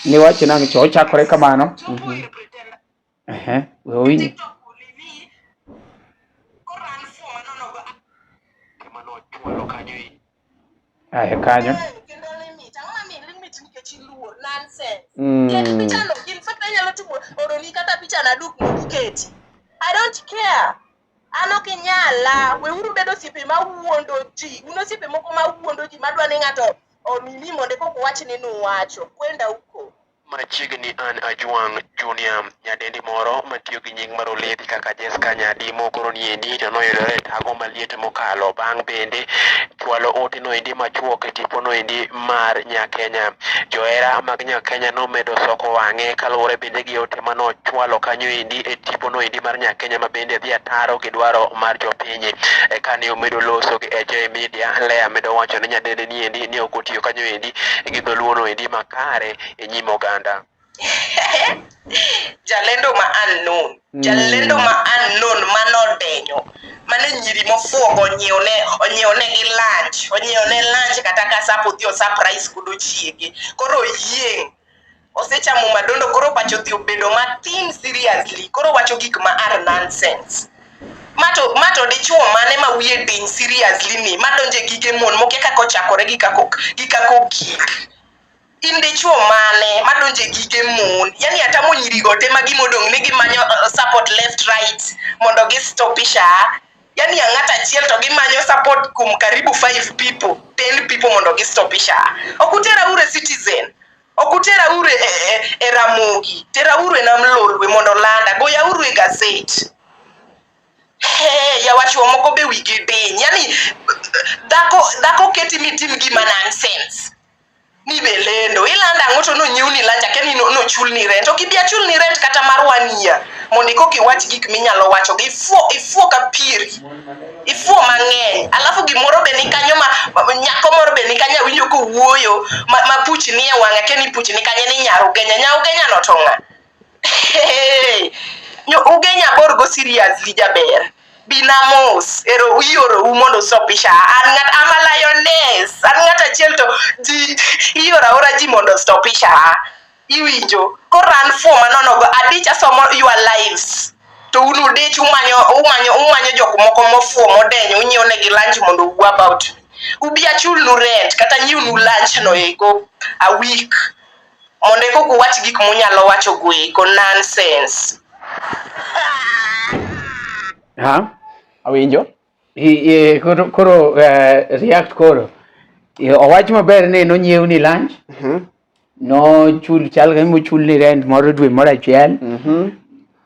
Speaker 1: ni wach nang' cho ochakore kamano Mhm. ehe we owinji ahe kanyo Mm.
Speaker 3: An ok inyala, weuru bedo osiepe ma wuondo ji. Un osiepe moko ma wuondo ji madwa ni ng'ato omimi mondo eka ok uwach ni nuwacho. Kwenda uko. Machiegni an
Speaker 4: Ajwang Junior, nyadendi moro matiyo gi nying mar Olevi kaka Jesca Nyadi mokoro niendi to noyudore e tago maliet mokalo bang' bende chwalo ote noendi machuok e tipo noendi mar Nyakenya. Johera mag Nyakenya nomedo soko wang'e kaluwore bende gi ote ma nochwalo kanyo endi e tipono endi mar Nyakenya ma bende dhi ataro gi dwaro mar jopiny. E kane omedo loso gi AJ Media, Lea medo wacho ne nyadendeni endi ni ok otiyo kanyo endi gi dholuono endi makare e nyim oganda.
Speaker 3: jalendo ma unknown mm. jalendo ma unknown ma nodenyo mane nyiri mofuogo onyiewne onyiewne gi lunch onyiewne lunch kata ka sap odhi osap rice kod ochiege koro oyieng' osechamo madondo koro pacho dhi obedo matin seriously koro wacho gik ma are nonsense mato mato dichuo mane ma wiye diny seriously ni madonje gige mon mokia kaka ochakore gi kako gi kako gik in dichuo mane madonje gige mon yani atamo nyirigo te ma gimodong' ni gimanyo uh, support left right mondo gistopisha yani ang'at achiel to gimanyo support kuom karibu five people ten people mondo gistopisha ok utera ure citizen ok utera ure e, e, e ramogi tera ure nam lolwe mondo landa goya uru e gaset Hey, yawachuo moko be wigi diny yani dhako dhako keti mitim gima nonsense ni be lendo ilando ang'o to nonyiewni lunch akia ni no- nochulni rent ok ibi achulni rent kata mar one year mondo ikok iwach gik minyalo wacho gi ifuo ifuo ka pieri ifuo mang'eny alafu gimoro be ni kanyo ma ma- nyako moro be ni kanyo awinjo kowuoyo ma, ma puch ni e wang'a akia ni puch ni kanye ni nyarugenya nyarugenya no to ng'a Hey, nyo- ugenya bor go seriously jaber bila mos ero iorou mondo usopisha an ng'at ama lioness an ng'at achiel to ji ioro aora ji mondo stopisha iwinjo koran fuo manonogo adich asomo your lives to un udich umanyo umanyo umanyo jok moko mofuo modenyo unyiewo negi lunch mondo uwu about me ubi achulnu rent kata nyiwnu lunch no eko a week Mondo eka uwach gik munyalo wacho goeko nonsense.
Speaker 2: Ha? Awinjo. I, i,
Speaker 1: koro, koro uh, react koro. I, owach maber ni nonyiew ni lunch. Mhm. Mm nochul chal ka mochul ni rent moro dwe moro achiel. Mhm. Mm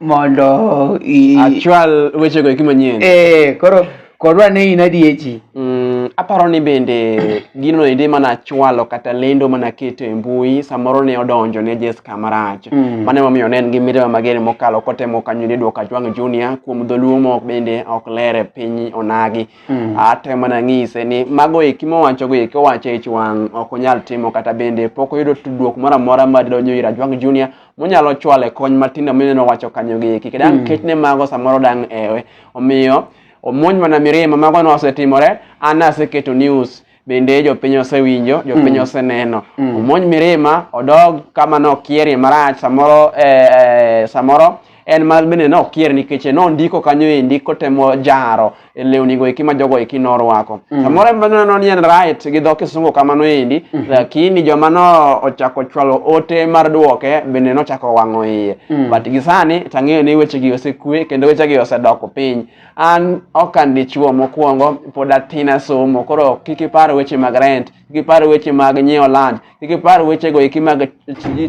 Speaker 1: mondo i achwal
Speaker 2: wechego eki manyien eh koro kodwa ni
Speaker 1: in adiechi mm, aparo
Speaker 2: ni bende gino endi mana achwalo kata lendo mana aketo e mbui samoro ne odonjo ne Jessica marach Mm. mano emomiyo ne en gi mirima mager mokalo kotemo kanyo ni duoko Ajwang' Junior kuom dholuo mok bende ok ler e piny onagi Mm. atemo mana ng'ise ni mago eki mowachogo eki owacho e ich wang' ok onyal timo kata bende pok oyudo tudruok moro amora madonjo ir Ajwang' Junior monyalo chwale kony matindo mineno wacho kanyo gi eki kedang mm. kech ne mago samoro dang ewe omiyo omonj mana mirima mago no osetimore an aseketo news bende jopiny osewinjo jopiny mm. oseneno mm. omonj mirima odog kama nokierie marach samoro eh, eh, samoro en ma bende nokier nikech nondiko kanyo endi kotemo jaro e lewni go eki ma jogo eki norwako mm. samoro mm. neno ni en right gi dho kisungu kamano endi mm -hmm. lakini joma no ochako chwalo ote mar duoke bende nochako wang'o iye mm. but gi sani tang'eyo ni weche gi osekwe kendo weche gi osedoko piny an ok an dichuo mokwongo pod atin asomo koro kik ipar weche mag rent kik ipar weche mag nyiewo land kik ipar weche go eki mag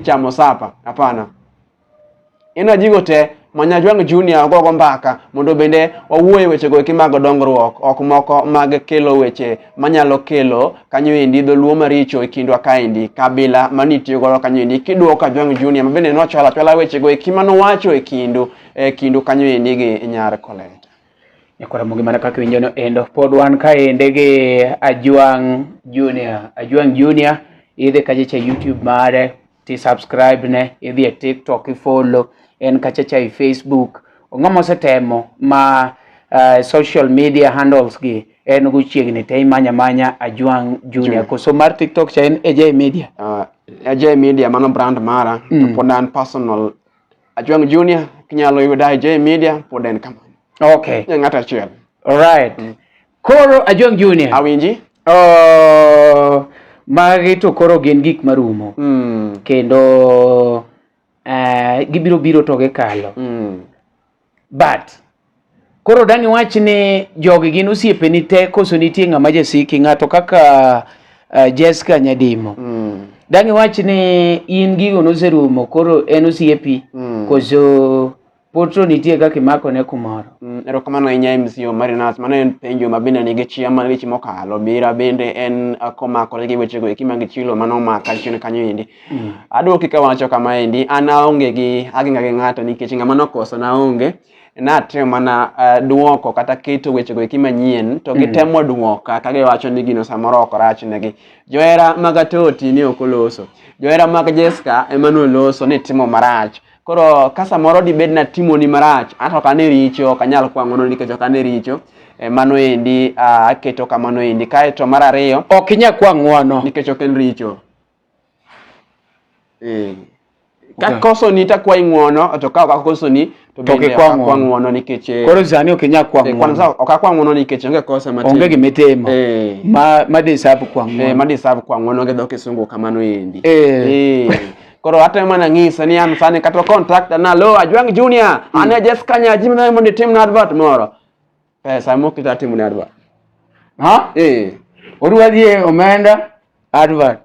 Speaker 2: chamo sapa hapana Inua jigo te ma Nyajwang' Junior ogogo mbaka mondo bende wawuoye wechego eki mag dongruok ok moko mag kelo weche manyalo kelo kanyo endi dholuo maricho e kindwa kaendi kabila manitiyo godo kanyo endi kiduoko Kajwang' Junior ma bende nochwala chwala wechego eki manowacho e kindu e kindu kanyo endi gi Nyar Koleta. Nyakwaramu
Speaker 1: gimana kaka iwinjo no endo. Pod wan kaende gi Ajwang' Junior. Ajwang' Junior idhi kachacha e YouTube mare ti subscribe ne, idhi e TikTok ifollow, en kachacha e Facebook. Ong'ama osetemo ma uh, social media handles gi en go chiegni te imanya manya Ajwang' Junior. Koso mar TikTok cha en AJ Media. Uh,
Speaker 2: AJ Media mano brand mara mm. to pod an personal Ajwang Junior kinyalo yuda J Media pod en kamano. Okay. Nye ng'at
Speaker 1: achiel.
Speaker 2: Alright. Mm.
Speaker 1: Koro Ajwang Junior. Awinji. Oh, magi to koro gin gik marumo. Mm. Kendo uh, gibiro biro to gikalo. Mm. but koro dang' iwach ni jogi gin osiepeni te koso nitie ng'ama jasiki ng'ato kaka uh, Jessica Nyadimo mm. dang' iwach ni in gigo noserumo koro en osiepi mm. koso potro nitie kaka imako ne kumoro mm, erokamano ahinya
Speaker 2: MC Omari Nas mano en penjo ma bende nigi chia mar weche mokalo bira bende en uh, komakore gi wechego eki mag chilo mano omaka chien kanyo endi Mm. Adwoki ka wacho kama endi, an aonge gi ageng'a gi ng'ato nikech ng'ama nokoso naonge. Natemo mana uh, dwoko kata keto wechego eki manyien to mm. gitemo dwoka ka giwacho ni gino samoro ok rachnegi. Johera mag Atoti ni ok oloso. Johera mag Jesca ema noloso ni timo marach. Koro ka samoro dibed natimoni marach, an ok ane richo, ok anyal kwang'ono nikech ok ane richo. Eh, mano endi ah, aketo kamano endi kaeto mar ariyo ok inya kwa ng'wono
Speaker 1: nikech ok en richo
Speaker 2: Eh, kakoso ni takwayi ng'uono to ka ok akoso ni to To bende ok kikwa akwa ng'uono. ng'uono nikech eh, koro sani ok inyal kwa
Speaker 1: eh, kwanza ng'uono ok akwa ng'uono
Speaker 2: nikech onge kosa matin onge gima itimo Eh.
Speaker 1: ma ma deserve kwa eh, ng'uono ma deserve kwa ng'uono gi
Speaker 2: dho kisungu kamano endi Eh. Eh. koro atemo mana ng'ise ni an sani kata contact na lo ajwang junior an e Jessica Nyaji mna mondo itim na advert moro eh, saa moko idwa timo ne advert ha eh
Speaker 1: odwa dhi e omenda advert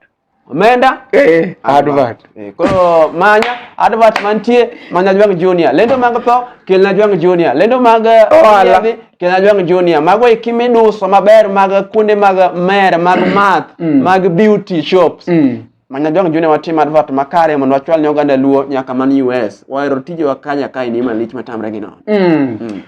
Speaker 1: omenda eh advert eh, koro manya
Speaker 2: advert mantie manya jwang junior lendo mag tho kelna jwang junior lendo mag eh, Ohala. yedhi, kelna jwang junior mago eki miduso maber mag kuonde mag mer mag math Mm. mag beauty shops Mm. Manya jong june watim advert makare mondo wachwal ne oganda luo nyaka man US. Wahero tije wa kanya kae ni malich matamre gi no. Mm. Mm.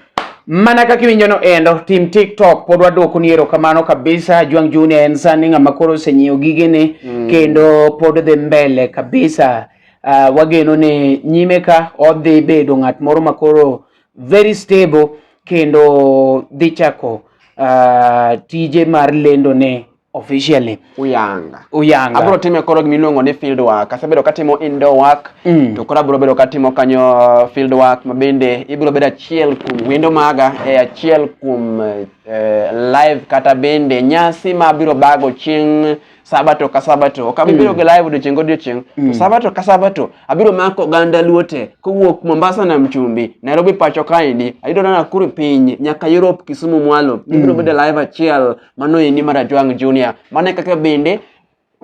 Speaker 2: Mana kaka
Speaker 1: iwinjo no endo, tim TikTok pod wadwoko ni erokamano kabisa. Jwang Junior en sani ng'ama koro osenyiewo gigene mm. kendo pod dhi mbele kabisa. Uh, wageno ni nyime ka odhi bedo ng'at moro ma koro very stable kendo dhi chako uh, tije mar lendo ne officially uyanga uyanga abro time koro
Speaker 2: gimi luongo ni field work asebedo katimo indoor work mm. to koro abro bedo katimo kanyo uh, field work mabende ibro bedo achiel kuom wendo maga e achiel kuom eh, live kata bende nyasi ma abiro bago chieng' sabato ka sabato ok abiro mm. gi live odiochieng' godiochieng' mm. sabato ka sabato abiro mako oganda luote kowuok mombasa na mchumbi nairobi pacho kaendi ayudo na nakuru piny nyaka europe kisumu mwalo mm. ibiro bedo live achiel Mano endi mar Ajwang' Junior. Mano kaka bende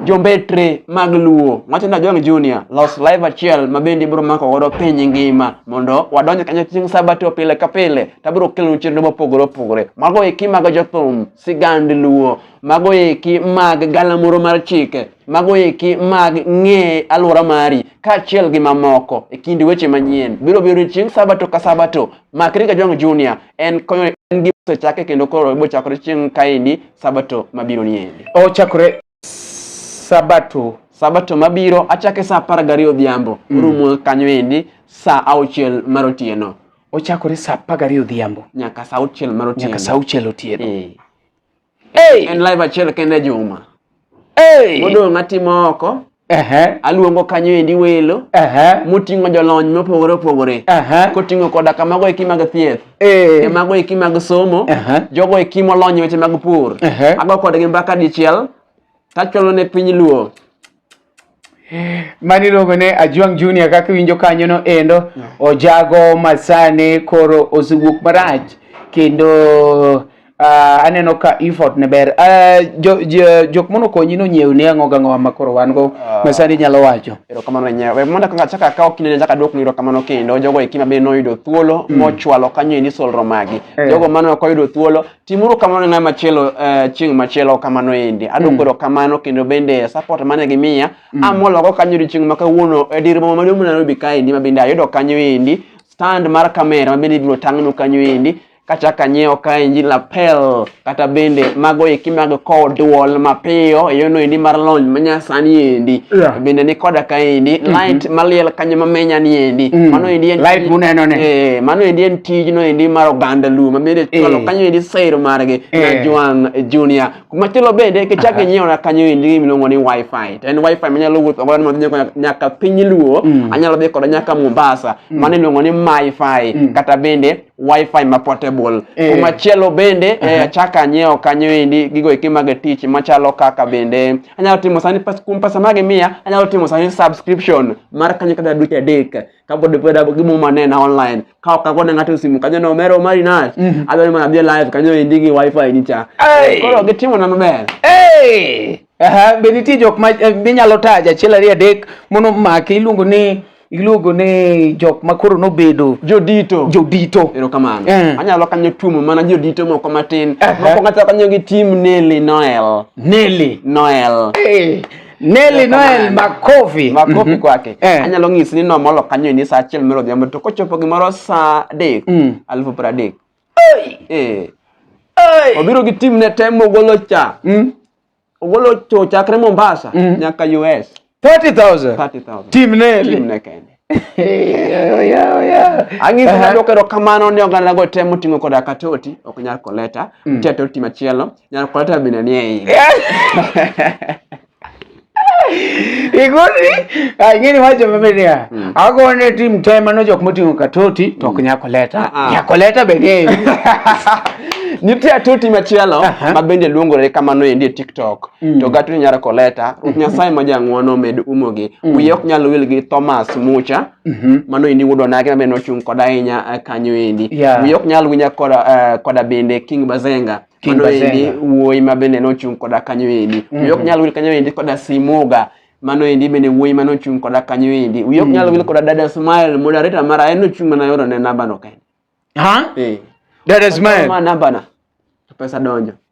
Speaker 2: jombetre mag luo wacho ni Ajwang' Junior los live achiel ma bende ibiro mako godo piny ngima mondo wadonj kanyo chieng' sabato pile ka pile to abiro kelonu chenro mopogore opogore mago eki mag jothum sigand luo mago eki mag galamoro mar chike mago eki mag ng'e alwora mari kaachiel gi mamoko e kind weche manyien biro biro chieng' sabato ka sabato Makri Kajwang' Junior en konyo en gi osechake kendo koro ibo chakore chieng' kaendi sabato mabiro ni endi. Ochakore
Speaker 1: sabato
Speaker 2: sabato mabiro achake saa apar gariyo odhiambo mm. rumo kanyo endi saa auchiel mar otieno ochakore saa
Speaker 1: apar gariyo odhiambo nyaka saa auchiel mar
Speaker 2: otieno nyaka saa auchiel otieno e. Hey. En live achiel kende e juma. Hey. Modong' atimo oko. Uh-huh. aluongo kanyo endi welo uh-huh. moting'o jolony mopogore opogore uh-huh. koting'o koda ka mago eki mag thieth eh. e mago eki mag somo jogo eki molony weche mag pur ago kodgi mbaka dichiel tachwalo ne piny luo
Speaker 1: mani iluongo ne Ajwang Junior kaka iwinjo kanyono endo ojago masani koro osewuok marach kendo Uh, aneno ka effort ne ber uh, jo, jo, jok mono konyi no nyiew ni ang'o gang'o ma koro wan go uh, ma sani nyalo wacho erokamano ne nyawe mondo
Speaker 2: kaka chaka akawo kinde chaka duok ni erokamano kendo jogo eki ma bende noyudo thuolo mm. mochwalo kanyo e nisol romagi eh. jogo mane ok oyudo thuolo Timuru kamano na machielo uh, chieng' machielo kamano endi. Adwoko mm. erokamano kendo bende support mane gimiya. Mm. Amologo kanyo odiechieng' ma kawuono e dir boma maduong' ma Nairobi kaendi ma bende ayudo kanyo endi stand mar kamera ma bende ibiro tang'nu kanyo endi kata kanyiewo ka inji lapel kata bende mago eki mag kowo duol mapiyo eyono endi mar lony manyasani endi yeah. bende ni koda ka endi mm -hmm. light maliel kanyo mamenya ni endi mm. mano endi en light muneno ne eh,
Speaker 1: mano endi en tijno
Speaker 2: endi mar oganda Luo ma bende chwalo eh. kanyo endi sero margi na eh. Juan Junior. Machielo bende kichako inyiewo na kanyo endi miluongo ni wifi. To en wifi manyalo wuotho godo madhi nyaka piny Luo, mm. anyalo dhi koda nyaka Mombasa, mm. mano iluongo ni MiFi mm. kata bende wifi ma portable. Eh. Machielo bende achako anyiewo kanyo endi gigo eki mag tich machalo kaka bende anyalo timo sani kuom pesa magi miya anyalo timo sani subscription mar kanyo kata dweche adek kapod peda gimo manena online ka ka kone ng'ato simu kanyo no mero mari na mhm. adwa ni mana bi live kanyo endi gi wifi ni cha koro gitimo na maber eh
Speaker 1: aha be nitie jok ma eh, minyalo taja achiel ariyo adek mono make iluongo ni iluongo ni jok ma koro nobedo jodito jodito erokamano eh.
Speaker 2: anyalo kanyo tuomo mana jodito moko matin moko kata kanyo gi tim Nelly Noel Nelly Noel eh. Nelly Noel makofi
Speaker 1: makofi mhm. kwake eh.
Speaker 2: anyalo ng'isi ni nomolo kanyo e ni saa achiel mero odhiambo to kochopo gimoro saa adek mm. alufu piero adek eh. obiro gi tim ne te mogolo cha mm. ogolo cho chakre Mombasa mm. nyaka US 30000 30000
Speaker 1: tim Nelly tim ne kende
Speaker 2: Ang' iso na dwoko erokamano ni oganda go temo ting'o koda ka toti, ok nyal koleta. Mm. Nitie toti machielo, nyal koleta bende ni ei.
Speaker 1: Igoni, ing'eni wacho mabe niya, mm. ago ne tim te mano jok moting'o ka toti, to ok mm. nyal koleta. Ah, ah. Nyal koleta be ni ei.
Speaker 2: Nitie toti machielo ma bende luongore kamano endi e TikTok. Mm. to gatri nyar koleta ruoth nyasaye ma jang'wono med umogi mm. wiye ok nyal wil gi thomas mucha mm -hmm. mano endi wuodwa nake ma bende ochung' koda ahinya eh, kanyo endi yeah. wiye ok nyal winya koda, uh, koda bende king bazenga king mano bazenga. endi wuoyi ma bende nochung' koda kanyo endi mm -hmm. wiye ok mm-hmm. nyal wil kanyo endi koda simuga mano endi bende wuoyi mane ochung' koda kanyo endi wiye ok mm. nyal wil koda dada smile moderator mara en ochung' mana yoro ne namba no kende ha eh.
Speaker 1: dada smile ma namba na
Speaker 2: pesa donjo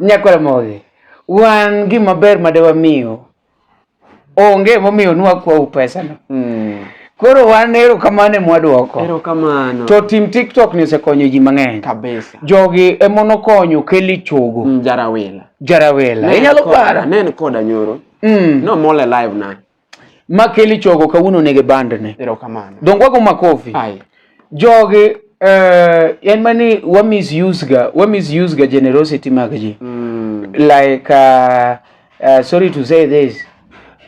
Speaker 1: Nyakoromogi, wan gima ber ma de wamiyo onge momiyo nwakwau pesano. Mm. Koro wan erokamano emwadwoko. Erokamano. To
Speaker 2: tim TikTok
Speaker 1: ni osekonyo ji mang'eny. Kabisa. Jogi
Speaker 2: emonokonyo
Speaker 1: Kelly Chogo. Mm, jarawela. Jarawela. Inyalo para. Nen koda nyoro.
Speaker 2: Mm. No mole live na. Makeli
Speaker 1: chogo kawuono nege bandne. Erokamano. Dongo wago
Speaker 2: makofi.
Speaker 1: Aye. Jogi uh, en mani wa misuse ga wa misuse ga generosity mag ji mm. like uh, uh, sorry to say this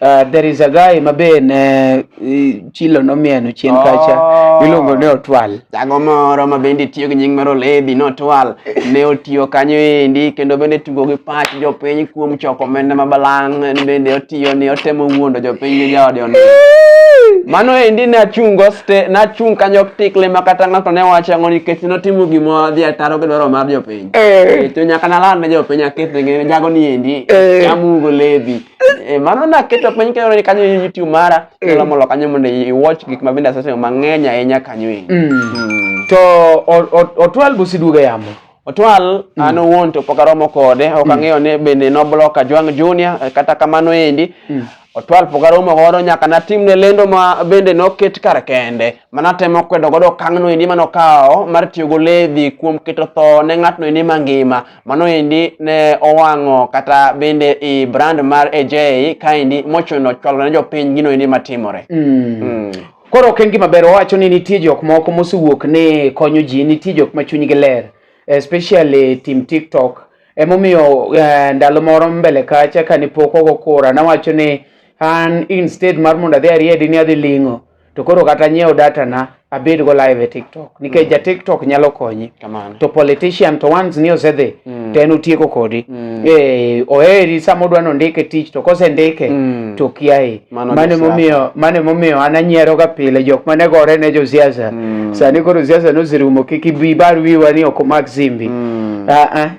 Speaker 1: Uh, there is a guy mabe ne uh, chilo nomieno chien oh. kacha iluongo ni otwal Jago moro ma
Speaker 2: bende tiyo gi nying mar Olebi Notwal ne otiyo kanyo endi kendo bende tugo gi pach jopiny kuom choko omenda ma balang' en bende otiyo ni otemo wuondo jopiny gi jaode ondo. Mano endi ne achung' go ste nachung' kanyo tikle ma kata ng'ato ne wacho ang'o nikech notimo gima dhi ataro gi dwaro mar jopiny. Eh. To nyaka naland ne jopiny aketh ne jago ni endi Eh. chamugo lebi. Eh, Mano naketo piny kendo ni kanyo e YouTube mara Inyalo molo kanyo mondo i watch gik ma bende asetimo mang'eny ahinya kanyo e. Mm. To o-
Speaker 1: o- otwal busiduogo e yamo. Otwal
Speaker 2: an owuon to pok aromo kode, ok ang'eyo ni bende noblock Ajwang' Junior eh, kata kamano endi. Otwal pok aromo godo nyaka natimne lendo ma bende noket kar kende ma natemo kwedo godo okang'no endi manokawo mar tiyo goledhi kuom keto tho ne ng'atno endi mangima. Mano endi ne owang'o kata bende i brand mar AJ kaendi mochuno chwalo ne jopiny gino endi matimore. Mm. Mm.
Speaker 1: Koro ok en gima ber owacho ni nitie jok moko mosewuok ni konyo ji, nitie jok ma chunygi ler especially tim TikTok. Emomiyo eh, ndalo moro mbele kacha kane pok ogo kura nawacho ni an instead mar mondo adhi ariedi ni adhi ling'o to koro kata nyiewo data na abed go live e TikTok nikech mm. ja TikTok nyalo konyi Kamano. to politician to once ni osedhi mm. to en otieko kodi mm. eh oheri sama odwa ni ondike tich to kosendike mm. to kiaye mane momiyo mane momiyo an anyiero ga pile jok mane gore ne jo siasa mm. sani koro siasa noserumo kik ibi bar wiwa ni ok omak simbi mm. ah, ah.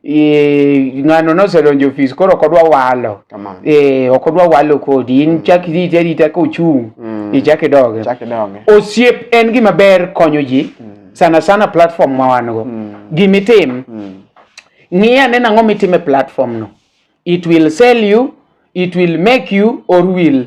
Speaker 1: Eh, ng'ano nosedonjo ofis koro ok odwa walo Kamano. Eh, ok odwa walo kodi in chak irite arita ka ochung' Mm. ichak idoge Chak idonge. osiep en gima ber konyo ji sana sana platform ma wan go Mm. gimitim Mm. ng'i ane nang'o mitime platform no it will sell you it will make you or will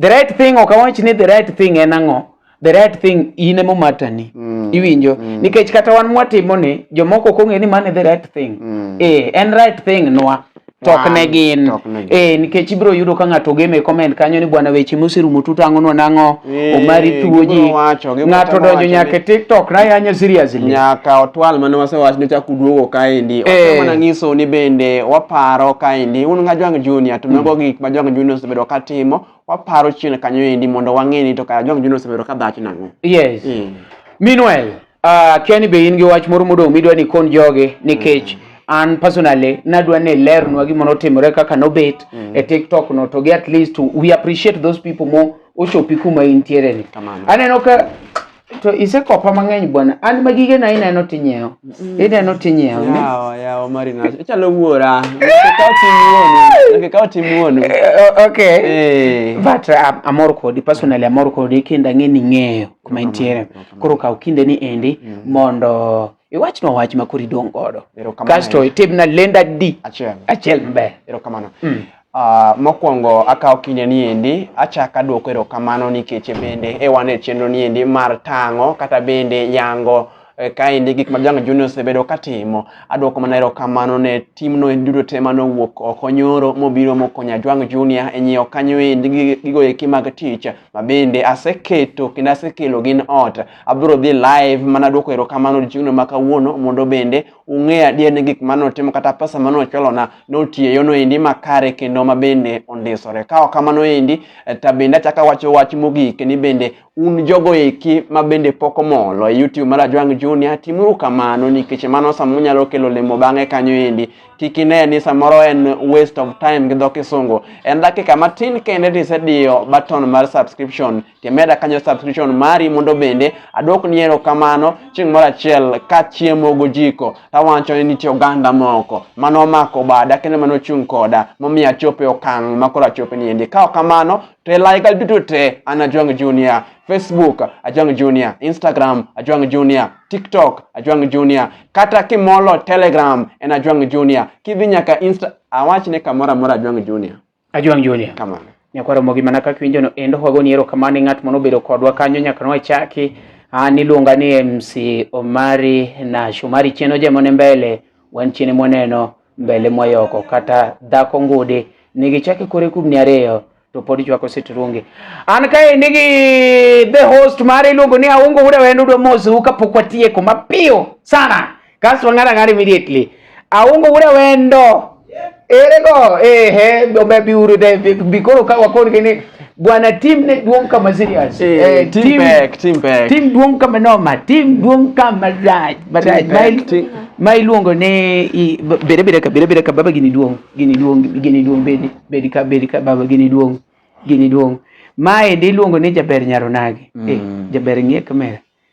Speaker 1: the right thing ok awach ni the right thing en ang'o the right thing in emo matani mm. iwinjo mm. nikech kata wan mwatimo ni jomoko ok ong'e ni mane the right thing mm. eh, en right thing nwa tok ne gin eh, nikech ibiro yudo ka ng'ato game e comment kanyo ni bwana weche moserumo tutang'onwa nang'o eh, omari tuo ji ng'ato donjo nyaka e tiktok na yanyo seriously nyaka otwal
Speaker 2: mane wasewach ni chak uduogo kaendi eh. wasemana ng'iso ni bende waparo kaendi un ng'ajwang' junior to mago mm. gik ma jwang' junior osebedo ka timo waparo chien kanyo endi mondo wang'e ni to kara Jomo Kenyatta osebedo ka dhacho nang'o. Yes. Mm.
Speaker 1: Meanwhile, uh, kia ni be in gi wach moro modong' midwa ni kon joge nikech mm. an personally nadwa ni ilernwa gima notimore kaka nobet mm. e TikTok no to gi at least we appreciate those people mo ochopi kuma intiere ni. Aneno ka to isekopa mang'eny bwana an ma gige na ineno tinyewo mm. ineno tinyewo ne yawa
Speaker 2: yawa marina ichalo wuora kikawo tim wuonu kikawo tim wuonu eh, eh, okay eh.
Speaker 1: but uh, amor kodi personally amor kodi kendo ang'e ni ng'eyo kuma intiere koro kaw kinde ni endi mm. mondo iwachna wach ma koro idong' godo kasto itimna lenda di achiel maber erokamano mm.
Speaker 2: Uh, mokwongo akawo kinde ni endi achako adwoko erokamano nikech bende e wan e chenro ni endi mar tang'o kata bende yango Eh, kaendi gik ma Janga Junior osebedo katimo. Adwoko mana erokamano ne timno duto te mane owuok oko nyoro mobiro mokonya Jwang Junior e nyiewo kanyo endi gigo eki mag tich mabende aseketo kendo asekelo gin ot Abiro dhi live mana duoko erokamano odiechieng'no ma kawuono mondo bende ung'e adier ni gik mane otimo kata pesa mane ochulona notiyo eyorno endi makare kendo ma bende ondisore. Ka ok kamano endi to bende achako awacho wach mogik ni bende un jogo eki ma bende pok omolo e YouTube mar Ajwang' Junior timuru kamano nikech mano sama unyalo kelo lemo bang'e kanyo endi kik ine ni samoro en waste of time gi dho kisungu. En dakika matin kende to isediyo button mar subscription Temeda kanyo subscription mari mondo bende adwok ni erokamano chieng' moro achiel kachiemo gojiko tawacho ni nitie oganda moko mane omako bada kendo mane ochung' koda momiyo achopo e okang' ma koro achopo ni endi. Ka ok kamano to e layiga duto te an Ajwang' Junior. Facebook Ajwang' Junior, Instagram Ajwang' Junior, TikTok Ajwang' Junior, kata kimolo Telegram en Ajwang' Junior. Kidhi nyaka Insta awach ni kamoro amora Ajwang' Junior. Ajwang' Julia. Kamano. Nyakwaro mogi mana kaka
Speaker 1: winjono endo wago ni erokamano ng'at mano obedo kodwa kanyo nyaka nwachaki ah, niluonga ni MC Omari na Shomari Cheno jemone mbele wan chine mwaneno mbele mwayoko kata dhako ngudi nigichake kore kubni ariyo to pod chwako sitrungi an kae nigi the host mare iluongo ni aungo uda wendo dwa mosu kapok watieko mapiyo sana Kasto ng'ata ng'ata immediately. Aungo ure wendo. Ere go, ehe, ombe biuru te, bikoro ka wakoni kini, bwana team ne duong kama serious. Eh, eh team, team back, team back. Team duong kama noma, team duong kama raj, maraj. Mail, ma iluongo ni bere bere ka bere bere ka baba gini duong, gini duong, gini duong bedi, bedi ka bedi ka baba gini duong, gini duong. Mae ndi iluongo ni jaber nyaronagi. Mm. Eh, jaber ng'iye kamera.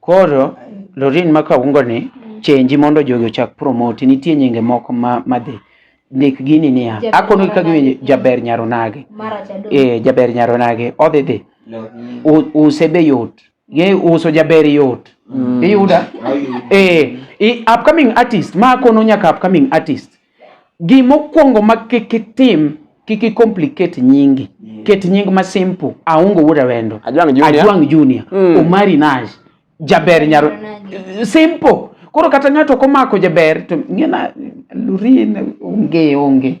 Speaker 5: Koro
Speaker 1: Lorin ma kaungo ni chenji mondo jogi ochak promote nitie nyinge moko ma madhi ndik gini niya akono ka giwinjo jaber nyaronage eh jaber nyaronage odhi dhi use be yot ye uso jaber yot mm. iyuda eh upcoming artist ma akono nyaka upcoming artist Gima okuongo ma kik itim, kik i complicate nyingi. Ket nying ma simple. Aongo wuod Awendo. Ajwang Junior. Ajwang Junior. Mm. Omari Nash. Jaber Nyaro. Simple. Koro kata ng'ato komako jaber to ng'ena lurin onge onge.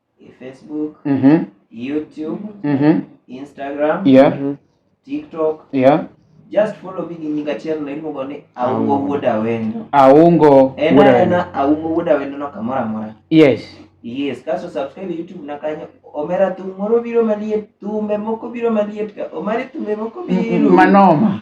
Speaker 6: Facebook, mm-hmm. YouTube, mm-hmm. Instagram, yeah. Mm-hmm.
Speaker 1: TikTok.
Speaker 6: Yeah.
Speaker 1: Just follow me
Speaker 6: in nyinga channel iluongo ni Aungo Wuod Awendo. Aungo
Speaker 1: Wuod Awendo. En ana Aungo Wuod Awendo no
Speaker 6: kamoro amora. Yes.
Speaker 1: Yes, kaso
Speaker 6: subscribe YouTube na kanyo. Omera thum moro biro maliet, thumbe moko biro maliet ka. Omari thumbe moko biro. Manoma.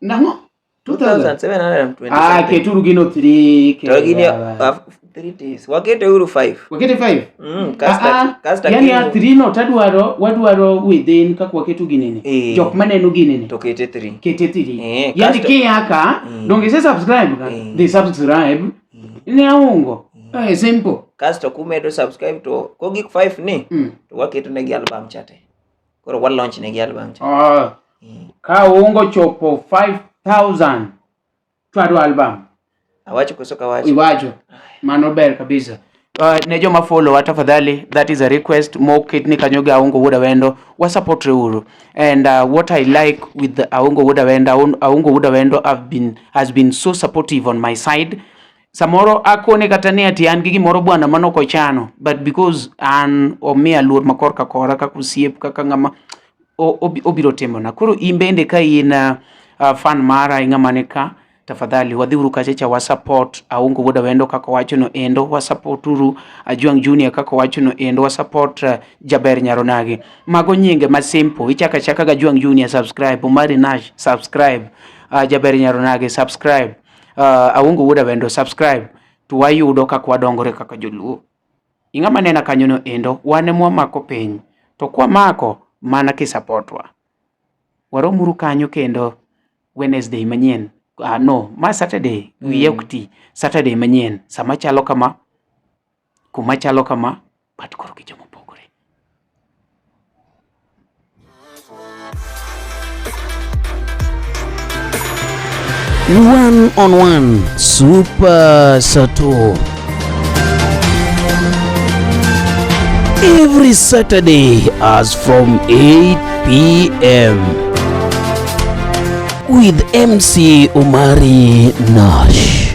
Speaker 6: Nang'o? 2720. Ah, keturu gino 3.
Speaker 1: To gini 3
Speaker 6: days. Wakete uru 5. Wakete 5.
Speaker 1: Mm, kasta ah, ah.
Speaker 6: kasta yani ya 3 no
Speaker 1: tadwaro wadwaro within kaka waketu ginene. E. Jok maneno ginene. To kete 3. Kete 3. E,
Speaker 6: eh,
Speaker 1: yani kiyaka e. donge se subscribe ka. E. They subscribe. E. Ne aungo. E. Eh, simple. Kasto kumedo
Speaker 6: subscribe to kogik 5 ni mm. to waketu ne gi album chate. koro wa launch ne gi album cha oh. Eh. ka
Speaker 1: ungo chopo 5000 twado album awacho koso
Speaker 6: kawacho iwacho mano
Speaker 1: ber kabisa Uh, ne joma follow wa tafadhali that is a request moket ni kanyo gi aongo wuod awendo wa support uru and uh, what i like with aongo wuod awendo aongo wuod awendo have been has been so supportive on my side samoro akone kata ni ati an gi gimoro bwana mano kochano but because an omiya luor makor ka kora kaka osiep kaka ng'ama obiro timona koro in bende ka in uh, uh, fan mara i ng'ama ni ka tafadhali wadhiuru kacha cha wasupport aungo wuoda wendo kaka wacho no endo wasupport uru ajwang junior kaka wacho no endo wasupport uh, jaber nyaronagi mago nyinge ma simple ichaka chaka ga jwang junior subscribe omari nash subscribe uh, jaber nyaronagi subscribe Uh, Awungu Wuda bende subscribe to wayudo kaka wadongore kaka joluo. Ing'ama nena kanyono endo wane mwamako piny to kwamako mana kisapotwa. Waromuru kanyo kendo Wednesday manyien. Uh, no, ma Saturday wiye mm. ok ti. Saturday manyien sama chalo kama kuma chalo kama but koro gi joma opogore.
Speaker 7: One on one super sato every Saturday as from 8 p.m. with MC Omari Nash.